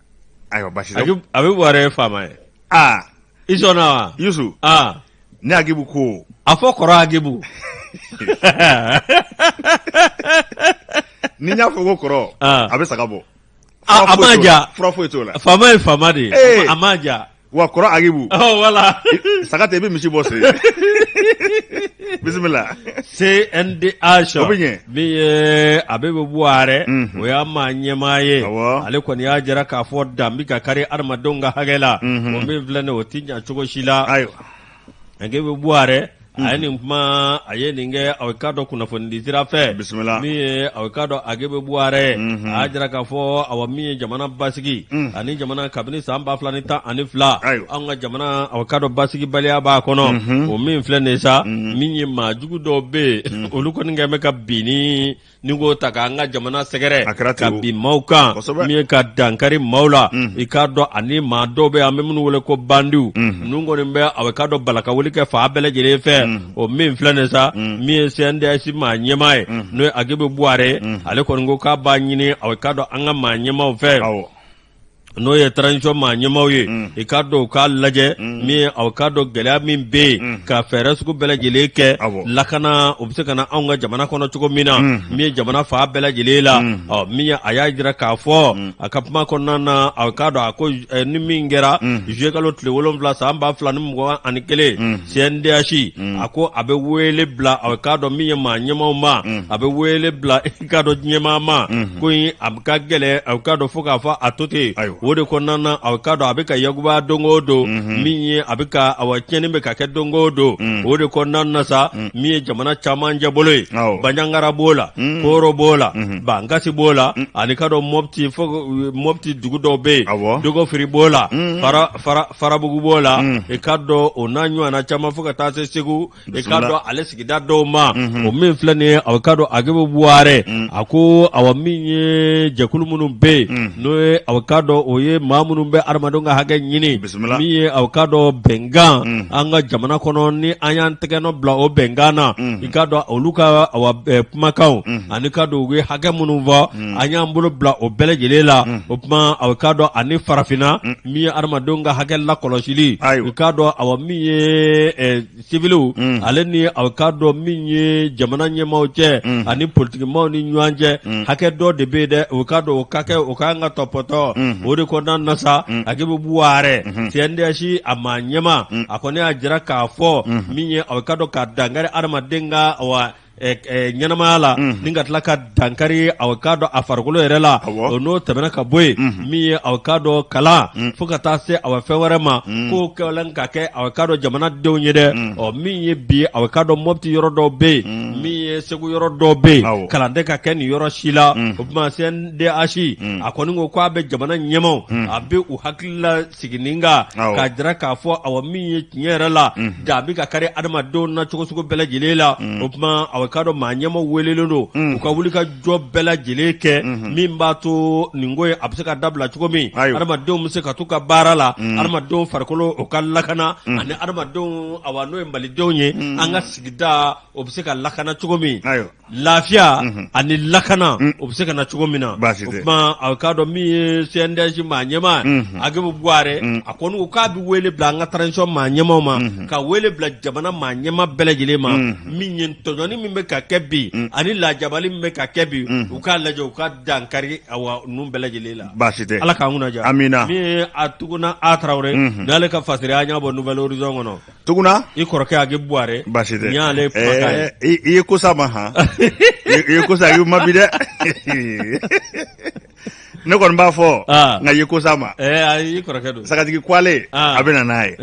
Ayiwa basi Agibu buwarɛ ye faama ye aa i sɔnna wa yusu aa ni Agibu ko a fɔ kɔrɔ Agibu ni n y'a fɔ ko kɔrɔ Aa. a bɛ saga bɔ a a m'a ja fura foyi t'o la faama ye faama de ye Ee. a m'a ja wa kɔrɔ Agibu walayi saga tɛ i bɛ misi bɔ se bisimila cndh o bɛ ɲɛ min ye Agibu buwarɛ o y'a maa ɲɛmaa ye ale kɔni y'a jira k'a fɔ dan bɛ ka kari adamadenw ka hakɛ la o min filɛ nin o tɛ ɲɛ cogo si la ayiwa Agibu buwarɛ a ye nin kuma a ye nin kɛ aw k'a dɔn kunnafonidi sira fɛ bisimila min ye aw k'a dɔn Agibu buwarɛ a y'a jira k'a fɔ ayiwa min ye jamana basigi ani jamana kabini san ba fila ni tan ani fila an ka jamana aw k'a dɔn basigibaliya b'a kɔnɔ o min filɛ nin sa min ye maa jugu dɔw bɛ yen olu kɔni kɛlen bɛ ka bin nin ko ta k'an ka jamana sɛgɛrɛ ka bin maaw kan min ka dankari maaw la mhm. i k'a dɔn ani maa dɔw bɛ an bɛ minnu wele ko bandiw mhm. ninnu kɔni bɛ aw k'a dɔn balakawuli kɛ fan bɛɛ lajɛlen fɛ mhm. o min filɛlen sa min ye CNDH maa ɲɛmaa ye n'o ye Agibu Buware ale kɔni ko k'a b'a ɲini aw k'a dɔn an ka maa ɲɛmaaw fɛ n'o ye transition maa ɲɛmaaw ye mm. i k'a dɔn u k'a lajɛ mm. min aw k'a dɔn gɛlɛya min bɛ yen mm. ka fɛɛrɛ sugu bɛɛ lajɛlen kɛ lakana o bɛ se ka na anw ka jamana kɔnɔ cogo min na min ye jamana fan bɛɛ lajɛlen la ɔ min ye a y'a jira k'a fɔ a ka kuma kɔnɔna na aw k'a dɔn a ko eh, ni min kɛra juillet kalo tile wolonwula san ba fila ni mugan ani kelen CNDH a ko a bɛ wele bila aw k'a dɔn min ye maa ɲɛmaaw ma a bɛ wele bila i k'a dɔn ɲɛmaaw ma mhm. ko in a ka gɛlɛn a k'a dɔn fo k'a fɔ a to ten o de kɔnɔna na a k'a dɔn a bɛ ka yakuba don o don mhm. min ye a bɛ ka awa tiɲɛni bɛ ka kɛ don o don mhm. o de kɔnɔna na sa min ye jamana cɛmancɛbolo ye banjagara b'o la kooro b'o la bankasi b'o la ani k'a dɔn mɔpti fo mɔpti dugu dɔw bɛ yen dogofiri b'o la farabugu b'o la i k'a dɔn o n'a ɲɔgɔnna caman fo ka taa se segu i k'a dɔn ale sigida dɔw ma o min filɛ nin ye a k'a dɔn Agibu Buware a ko awa min ye jɛkulu minnu bɛ yen n'o ye aw k'a dɔn o ye maa minnu bɛ adamadenw ka hakɛ ɲini min ye aw k'a dɔn bɛnkan an ka jamana kɔnɔ ni an y'an tɛgɛnɔ bila o bɛnkan na i k'a dɔn olu ka awa eh, kumakanw ani k'a dɔn u ye hakɛ minnu fɔ an y'an bolo bila o bɛɛ lajɛlen la o tuma aw k'a dɔn ani farafinna min ye adamadenw ka hakɛ lakɔlɔsili i k'a dɔn awa min ye sivili mm. ale ni aw k'a dɔn min ye jamana ɲɛmaaw cɛ mm. ani politikimaaw ni ɲɔgɔn cɛ mm. hakɛ dɔ de bɛ yen dɛ aw k'a dɔn o ka kɛ o ka kan ka tɔpɔtɔ mm-hmm. o de kɔnɔna na sa mm-hmm. Agibu Buware CNDH a maa ɲɛmaa a kɔni y'a jira k'a fɔ mm-hmm. min ye aw k'a dɔn ka dankari adamaden ka awa ɲɛnamaya la ni ka tila ka dankari a k'a dɔn a farikolo yɛrɛ la o n'o tɛmɛna ka bɔ yen min ye a k'a dɔn kalan fo ka taa se a fɛn wɛrɛ ma ko kalan ka kɛ a k'a dɔn jamanadenw ye dɛ ɔ min ye bi a k'a dɔn mɔpti yɔrɔ dɔ bɛ yen min ye segu yɔrɔ dɔ bɛ yen kalan tɛ ka kɛ nin yɔrɔ si la o tuma CNDH a kɔni ko k' a bɛ jamana ɲɛmaaw a bɛ u hakili la sigi nin kan k'a jira k'a fɔ awa min ye tiɲɛ yɛrɛ la dan bɛ ka kari adamadenw na cogo sugu bɛɛ lajɛlen la o tuma a k'a dɔn maa ɲɛmaa welelen don u ka wuli ka jɔ bɛɛ lajɛlen kɛ min b'a to nin ko in a bɛ se ka dabila cogo min adamadenw bɛ se ka to u ka baara la adamadenw farikolo o ka lakana ani adamadenw awa n'o ye malidenw ye an ka sigida o bɛ se ka lakana cogo min Lafiya ani lakana o bɛ se ka na cogo min na o kuma aw k'a dɔn min ye CNDH maa ɲɛma Agibu Buwarɛ a ko n' k'a bɛ wele bila an ka transition maa ɲɛmaw ma ka wele bila jamana maa ɲɛma bɛɛ lajɛlen ma min ye tɔɲɔni min bɛ ka kɛ bi ani lajabali min bɛ ka kɛ bi u k'a lajɛ u ka dankari awa nin bɛɛ lajɛlen la baasi tɛ ala k'an kunnadiya amiina min ye a tuguna a tarawele n'ale ka fasiri an y'a bɔ Nouvel Horizon kɔnɔ Tuguna i kɔrɔkɛ Agibu Buwarɛ basi tɛ ale i ye ko sa ma ha i ye ko sa Agibu ma bi dɛ ne kɔni b'a fɔ nka i ye ko sa ma i kɔrɔkɛ don sagajigi kuale a bɛ na n'a ye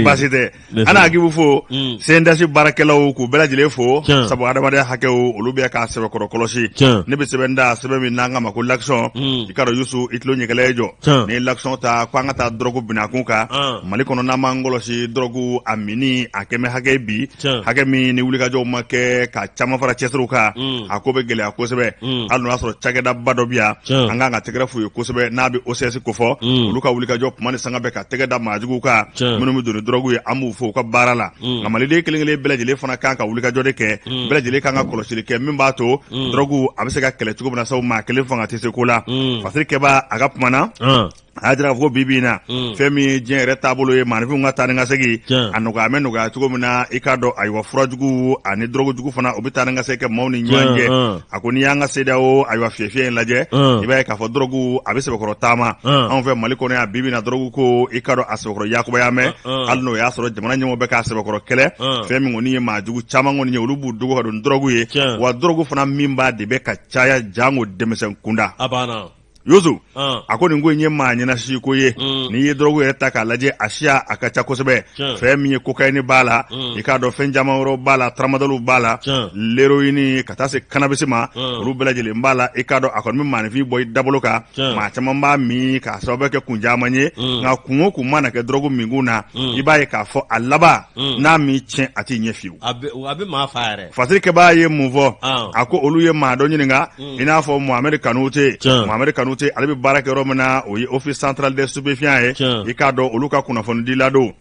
basi tɛ an na Agibu fo CNDH baarakɛlaw k'u bɛɛ lajɛlen fo sabu adamadenya hakɛw olu bɛ k'a sɛbɛkɔrɔ kɔlɔsi ne bɛ sɛbɛn ta sɛbɛn min n'an k'a ma ko lakisɔn i k'a dɔn Yusu i tulo ɲɛkɛlɛ ye jɔ n'i ye lakisɔn ta ko an ka taa dɔrɔgu binakun kan mali kɔnɔ n'an m'an kɔlɔsi dɔrɔgu a minni a kɛmɛ hakɛ bi hakɛ min ni wulikajɔw ma kɛ ka caman fara cɛsiriw kan mm. a ko bɛ gɛlɛya kosɛbɛ mm. hali n'o y'a sɔrɔ cakɛdaba dɔ bi yan an kan ka tɛgɛrɛ f'u ye kosɛbɛ n'a bɛ OCS kofɔ mm. olu ka wulikajɔ kuma ni sanga bɛɛ ka tɛgɛ da maajuguw kan minnu bɛ don ni dɔrɔgu ye an b'u fo u ka baara la nka maliden kelen kelen bɛɛ lajɛlen fana kan ka wulikajɔ de kɛ bɛɛ lajɛlen kan ka kɔlɔsili kɛ min b'a to Mm. dɔrɔgu a bɛ se ka kɛlɛ cogo min na sabu maa kelen fanga tɛ se ko la Mm. fasirikɛbaa a ka kuma na Ɔn. a y'a jira k'a fɔ ko bi bi in na Mm. fɛn min ye diɲɛ yɛrɛ taabolo ye maanifinw ka taa ni ka segin Tiɲɛ. a nɔgɔya bɛ nɔgɔya cogo min na i k'a dɔn ayiwa furajugu ani dɔrɔgujugu fana o bɛ taa ni ka segin kɛ maaw ni ɲɔgɔn Tiɲɛ, cɛ ɔn. a ko n'i y'an ka CEDEAO ayiwa fiyɛfiyɛ in lajɛ Ɔn. i b'a ye k'a fɔ dɔrɔgu a bɛ sɛbɛkɔrɔ taama Ɔn. anw fɛ mali kɔnɔ yan bi bi in na dɔrɔgu ko i k'a dɔn a sɛbɛkɔrɔ yakubaya mɛn hali n'o y'a sɔrɔ jamana ɲɛmɔgɔ bɛ k'a sɛbɛkɔrɔ kɛlɛ fɛn min kɔni ye maajugu caman kɔni ye olu b'u dogo ka don dɔrɔgu ye wa dɔrɔgu fana minbaa de bɛ ka caya janko denmisɛn kunda Yusu a ko nin ko in ye maa ɲɛnasi ko ye n'i ye dɔrɔgu yɛrɛ ta k'a lajɛ a siya a ka ca kosɛbɛ fɛn min ye kokayini b'a la i k'a dɔn fɛn caman wɛrɛw b'a la taramadalu b'a la leroyini ka taa se kanabisi ma olu bɛɛ lajɛlen b'a la i k'a dɔn a kɔni bɛ maaninfin bɔ i dabolo kan maa caman b'a min k'a sababu kɛ kun caman ye mm. nka kun o kun mana kɛ dɔrɔgu minkun na mm. i b'a ye k'a fɔ a laban mm. n'a m'i tiɲɛ a t'i ɲɛ fiyewu a bɛ maa fa yɛrɛ fasirikɛbaa ye mun fɔ ah. a ko olu ye maa dɔ ɲininka i n'a fɔ mohamɛdi kanute mohamɛdi kanute ale bɛ baara kɛ yɔrɔ min na o ye office central des stupéfiants ye i k'a dɔn olu ka kunnafonidila don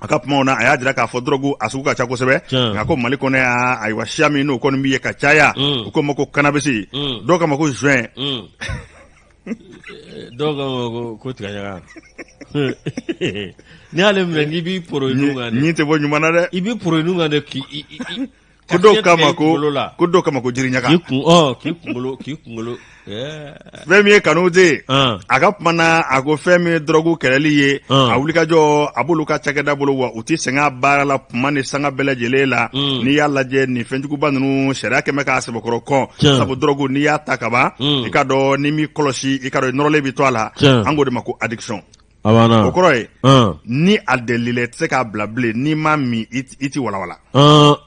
a ka kumaw na a y'a jira k'a fɔ dɔrɔgu a sugu ka ca kosɛbɛ nka ko mali kɔnɔ yan ayiwa siya min n'o kɔni bɛ ye ka caya mm. u k'o ma ko kanabisi mm. dɔw k'a ma ko joint mm. dɔw k'a ma ko ko tigaɲaga n'i y'ale minɛ n'i b'i poro i nun kan nin tɛ bɔ ɲuman na dɛ i b'i poro i nun kan dɛ k'i ko dɔw k'a ma ko ko dɔw k'a ma ko jiriɲaga k'i kun ɔ k'i kunkolo k'i kunkolo fɛn min ye Kanute ye a ka kuma na a ko fɛn min ye dɔrɔgu kɛlɛli ye a wulikajɔ a b'olu ka cakɛda bolo wa u tɛ sɛgɛn a baara la kuma ni sanga bɛɛ lajɛlen la n'i y'a lajɛ nin fɛnjuguba ninnu sariya kɛmɛ k'a sɛbɛkɔrɔ kɔn sabu dɔrɔgu n'i y'a ta kaban i k'a dɔn n'i m'i kɔlɔsi i k'a dɔn i nɔrɔlen bɛ to a la an k'o de ma ko addiction A banna o kɔrɔ ye ɔn ni a delila i tɛ se k'a bila bilen n'i m'a min i tɛ- i tɛ walawala ɔn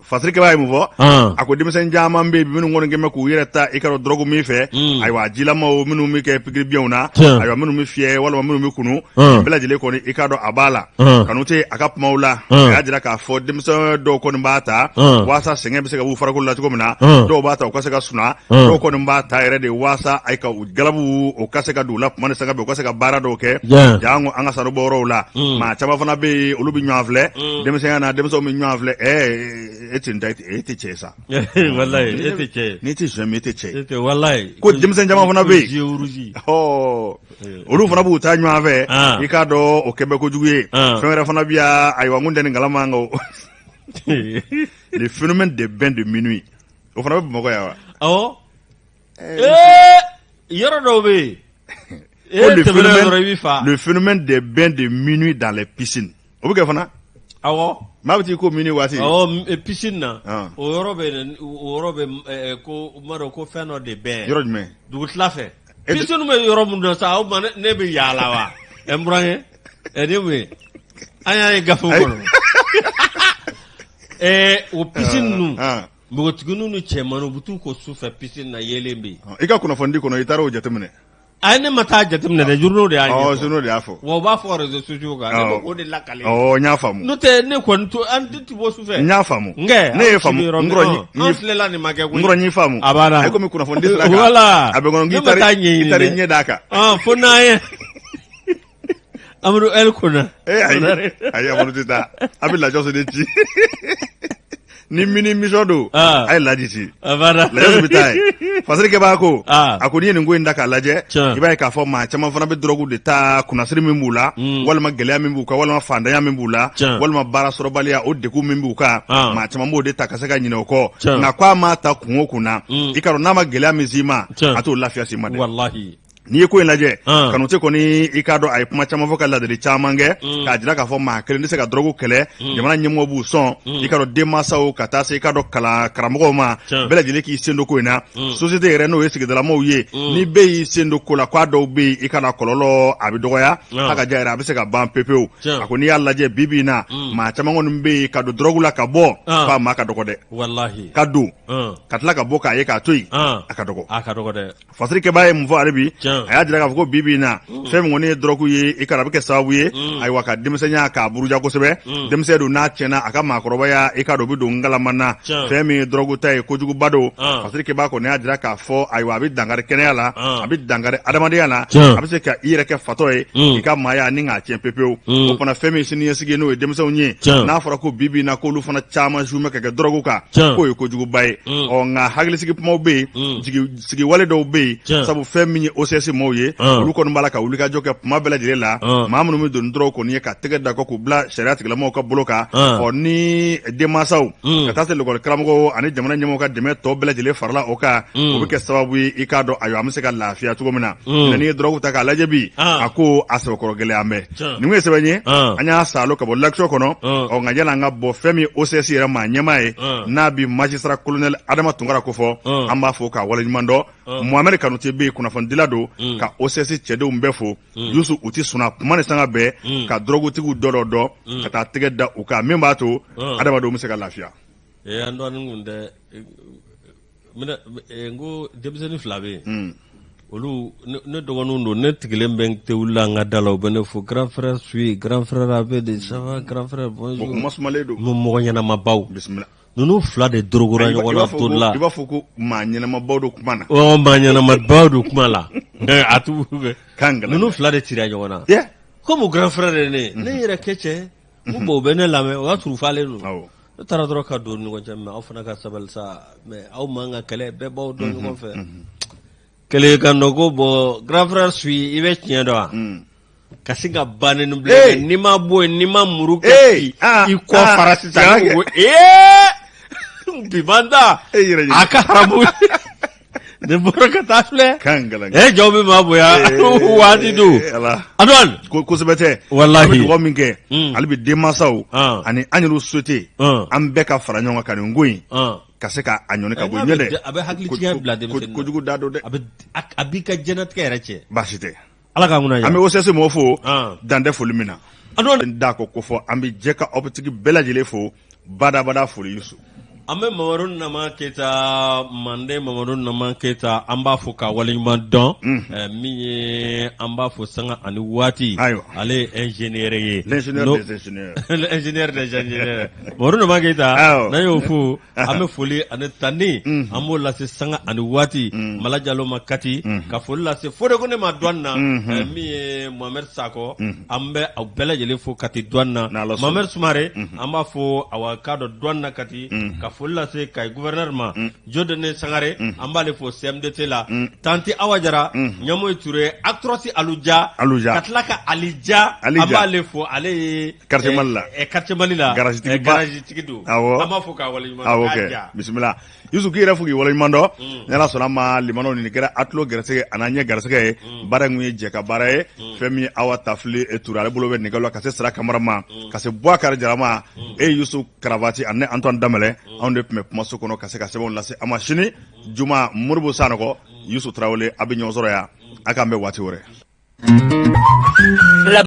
Fasirikɛba ye mun fɔ ɔn a ko denmisɛn caman bɛ yen minnu kɔni kɛmɛ k'u yɛrɛ ta i k'a dɔn dɔrɔgu min fɛ Mm. ayiwa jilamaw minnu bɛ kɛ pikiribiɲɛw na Tiɲɛ. ayiwa minnu bɛ fiyɛ walima minnu bɛ kunu Mm. bɛɛ lajɛlen kɔni i k'a dɔn a b'a la Mm. Kanute a ka kumaw la Mm. a y'a jira k'a fɔ denmisɛn dɔw kɔni b'a ta Mm. waasa sɛgɛn bɛ se ka b'u farikolo la cogo min na Mm. dɔw b'a ta u ka se ka suna Mm. dɔw kɔni b'a ta yɛrɛ de waasa a ye ka u galabu o ka se ka don u la kuma ni sanga bɛɛ u ka se ka baara dɔw kɛ janko an ka sanu bɔ yɔrɔw la mm. maa caman fana bɛ yen olu bɛ ɲɔgɔn filɛ mm. denmisɛnya na denmisɛnw bɛ ɲɔgɔn filɛ ɛ e tɛ da e tɛ cɛ sa e tɛ cɛ n'i tɛ sɔn e tɛ cɛ e ko denmisɛn caman fana bɛ yen olu fana b'o ta ɲɔgɔn fɛ ah. i k'a dɔn o kɛmɛ kojugu ye ah. fɛn wɛrɛ fana bɛ yan ayiwa n ko tɛ nin kalama kan o le phénomène des bains de minuit o fana bɛ bamakɔ yan wa yɔrɔ dɔw bɛ yen le phénomène des bains de minuit dans les piscines o bɛ kɛ fana awɔ maa bɛ t'i ko minuit waati awɔ piscine na ah. o yɔrɔ bɛ o yɔrɔ bɛ ko n b'a dɔn ko fɛn dɔ de bɛ yɔrɔ jumɛn dugutila fɛ piscine bɛ yɔrɔ min na sa o ma ne bɛ yaala wa ɛ n burankɛ ɛ ne m'o ye an y'a ye gafe kɔnɔ ɛɛ o piscine ninnu ah, ah. npogotigininw ni cɛmanninw u bɛ t'u ko su fɛ piscine na yeelen bɛ yen. i ka kunnafonidi kɔnɔ i taara o jateminɛ. a ne ma taa jateminɛ dɛ journaux de y'a ɲɛfɔ. awɔ journaux de y'a fɔ. wa u b'a fɔ réseaux sociaux kan. awɔ ne b'o de lakale. awɔ n y'a faamu. n'o tɛ ne kɔni to an tɛ ti bɔ su fɛ. n y'a faamu. n kɛ ne ye faamu n kɔrɔ n ye an filɛla nin ma kɛ koyi. n kɔrɔ n y'i faamu. a banna e komi kunnafonidi sira kan. voilà a bɛ kɔnɔ k'i taara i taara i ɲɛ d'a kan. fo n'a ye. Amadu ko a amadu tɛ taa a bɛ lajɛso de ci ni mini mi don a ye lajisi bɛ taa Fasirikɛba ko a ko n'i ye nin ko in da k'a lajɛ i b'a ye k'a fɔ maa caman fana bɛ dɔrɔgu de ta kunnasiri min b'u la mm. walima gɛlɛya min b'u kan walima faantanya min b'u la walima baara sɔrɔbaliya o degun min b'u kan maa caman b'o de ta ka se ka ɲina o kɔ nka k ko a ma ta kun o kun na mm. i k'a dɔn n'a ma gɛlɛya min s'i ma a t'o lafiya s'i ma n'i ye ko in lajɛ ah. kanute kɔni i k'a dɔn a ye kuma caman fɔ ka ladili caman kɛ mm. k'a jira k'a fɔ maa kelen tɛ se ka dɔrɔgu kɛlɛ mm. jamana ɲɛmɔgɔ b'u sɔn mm. i k'a dɔn denmansaw ka taa se i k'a dɔn kalan karamɔgɔw ma bɛɛ lajɛlen k'i sen don ko in na sosiyete yɛrɛ n'o ye sigidalamaw ye ni bɛɛ y'i sen don ko la k'a dɔw bɛ yen i k'a dɔn a kɔlɔlɔ a bɛ dɔgɔya ah. a ka ja yɛrɛ a bɛ se ka ban pepewu a ko n'i y'a lajɛ bi bi in na maa caman kɔni bɛ yen ka don dɔrɔgu la ka bɔ ah. k'a maa ka dɔgɔ dɛ ka don ka tila ka bɔ k'a ye k'a to yen a ka dɔgɔ fasiri kɛbaa ye mun fɔ hali bi a y'a jira k'a fɔ ko bi bi in na mm. fɛn min kɔni ye dɔrɔgu ye i k'a dɔn a bɛ kɛ sababu ye mm. ayiwa ka denmisɛnya k'a buruja kosɛbɛ mm. denmisɛn don n'a tiɲɛna a ka maakɔrɔbaya i k'a dɔn o bɛ don ngalama na fɛn min ye dɔrɔgu ta ye kojuguba don ah. fasiri kɛbaa kɔni y'a jira k'a fɔ ayiwa a bɛ dankari kɛnɛya la ah. a bɛ dankari adamadenya la a bɛ se ka i yɛrɛ kɛ fatɔ ye i ka maaya ni k'a tiɲɛ pepewu o fana fɛn min siniɲɛsigi ye n'o ye denmisɛnw ye n'a fɔra ko bi bi in na k'olu fana caman zume ka kɛ dɔrɔgu kan k'o ye kojuguba ye ɔ nka hakilisigi kumaw bɛ yen sigiwale dɔw bɛ yen sabu fɛn min ye osɛsi maaw ye olu kɔni b'a la ka wulikajɔ kɛ kuma bɛɛ lajɛlen la maa minnu bɛ don dɔrɔgu kɔni ye ka tɛgɛ da u kan k'u bila sariya tigilamaw ka bolo kan ɔ ni denmansaw ka taa se lakɔli karamɔgɔw ani jamana ɲɛmɔgɔw ka dɛmɛ tɔ bɛɛ lajɛlen farala o kan o bɛ kɛ sababu ye i k'a dɔn ayiwa an bɛ se ka lafiya cogo min na nka n'i ye dɔrɔgu ta k'a lajɛ bi a ko a sɛbɛkɔrɔ gɛlɛyalen bɛ nin ye sɛbɛn ye an y'a salon ka bɔ l'action kɔnɔ ɔ nka yanni an ka bɔ fɛn min osɛsi yɛrɛ maa ɲɛmaa ye n'a bɛ magistrat colonel adama tunkara kofɔ an b'a fo k'a waleɲumandɔn mohamed kanute bɛ yen kunnafonidila don ka osɛsi cɛdenw bɛɛ fo yusu u tɛ sunɔgɔ kuma ni sanga bɛɛ ka dɔrɔgutigiw dɔ dɔdɔ ka taa tɛgɛ da u kan min b'a to adamadenw bɛ se ka lafiya eh, n ko denmisɛnnin fila bɛ yen hmm. olu ne dɔgɔninw don ne sigilen bɛ te wuli an ka da la u bɛ ne fo grand frère suye grand frère a bɛ di ça va grand frère bonjour mɔgɔ ɲɛnamabaw bisimila ninnu fila de dorogora ɲɔgɔn na to la i b'a fɔ ko maa ɲɛnamabaw don kuma na ɔ maa ɲɛnamabaw don kuma la a tu ninnu fila de cira ɲɔgɔn na komi grand frère de ne ne yɛrɛ kɛ cɛ Ko bon u bɛ ne lamɛn o y'a sɔrɔ u falen don ne taara dɔrɔn ka don ɲɔgɔn cɛ mɛ aw fana ka sabali sa mɛ aw man kan ka kɛlɛ bɛɛ b'aw dɔn ɲɔgɔn fɛ kelen ka nɔ ko bon grand frère su i bɛ tiɲɛ dɔn wa ka sin ka ban ni bila n'i ma bɔ yen ni n ma muru kɛ i kɔ fara sisan ee biban da a ka haramu ne bɔra ka taa filɛ kan gɛlɛn e jaa u bɛ maa bonya waati dɔn Eh, ala a dɔn kosɛbɛ dɛ Walahi. an bɛ dugawu min kɛ Mm. hali bi denmansaw Ah. ani an yɛrɛ sosiyete Ah. an bɛɛ ka fara ɲɔgɔn kan ka nin ko in ɔn ka se ka a ɲɔni ka bɔ Eh, n'a ɲɛ bɛ dɛ ja- a bɛ hakili ko- tiɲɛ ko- bila ko- denmisɛnnin na. kojugu dan don dɛ a bɛ a- a b'i ka diɲɛlatigɛ yɛrɛ cɛn baasi tɛ Ala ka kunna an bɛ osase maaw fo dantɛ foli min na d'a ko ko fɔ an bɛ jɛ ka aw bɛtigi bɛɛ lajɛlen fo badabada foli su an bɛ mamadu nama keyita manden mamadu nama keyita an b'a fɔ ka wale ɲuman dɔn min ye an b'a fɔ san ani waati ayiwa ale ez yɛrɛ ye yɛrɛ keyita n'a y'o fo an bɛ foli ani tanni an b'o lase sanga ani waati mala jalo ma kati ka foli lase fode kone ma douane na eh, min ye mohamɛd sakɔ an bɛ aw bɛɛ lajɛlen fo kati douane na N'Ala sɔnna. mohamɛd sumare an b'a fo awa k'a dɔ douane na kati ka foli lase kayi guvɛrɛnɛri ma dieudonné sangare an b'ale fo cmdt la tanti awa jara ɲɛmoyi ture actrɔsi aluja Aluja. ka tila ka alija Ali Ja. an b'ale fo ale ye Quartier eh, Mali la. eh, quartier mali la Garage tigiba. Eh, garage tigi don awɔ an b'a fo k'a waleɲuman dɔn, awɔ k'a kɛ ja. bisimila yusu k'i yɛrɛ fo k'i waleɲuman dɔn Mm. ni ala sɔnna a ma limanaw nin kɛra a tulo gɛrɛsɛgɛ a n'a ɲɛ gɛrɛsɛgɛ ye Mm. baara in kun ye jɛkabaara ye Mm. fɛn min ye awa tafile ture ale bolo bɛ nɛgɛ la ka se sira kamara ma Mm. ka se buwakari jara ma Mm. e yusu karavati ani antoine damɛlɛ Mm. anw de tun bɛ kumaso kɔnɔ ka se ka sɛbɛnw lase a ma sini juma moribo sanɔgɔ yusu tarawele a bɛ ɲɔgɔn sɔrɔ yan a k'an bɛn waati wɛrɛ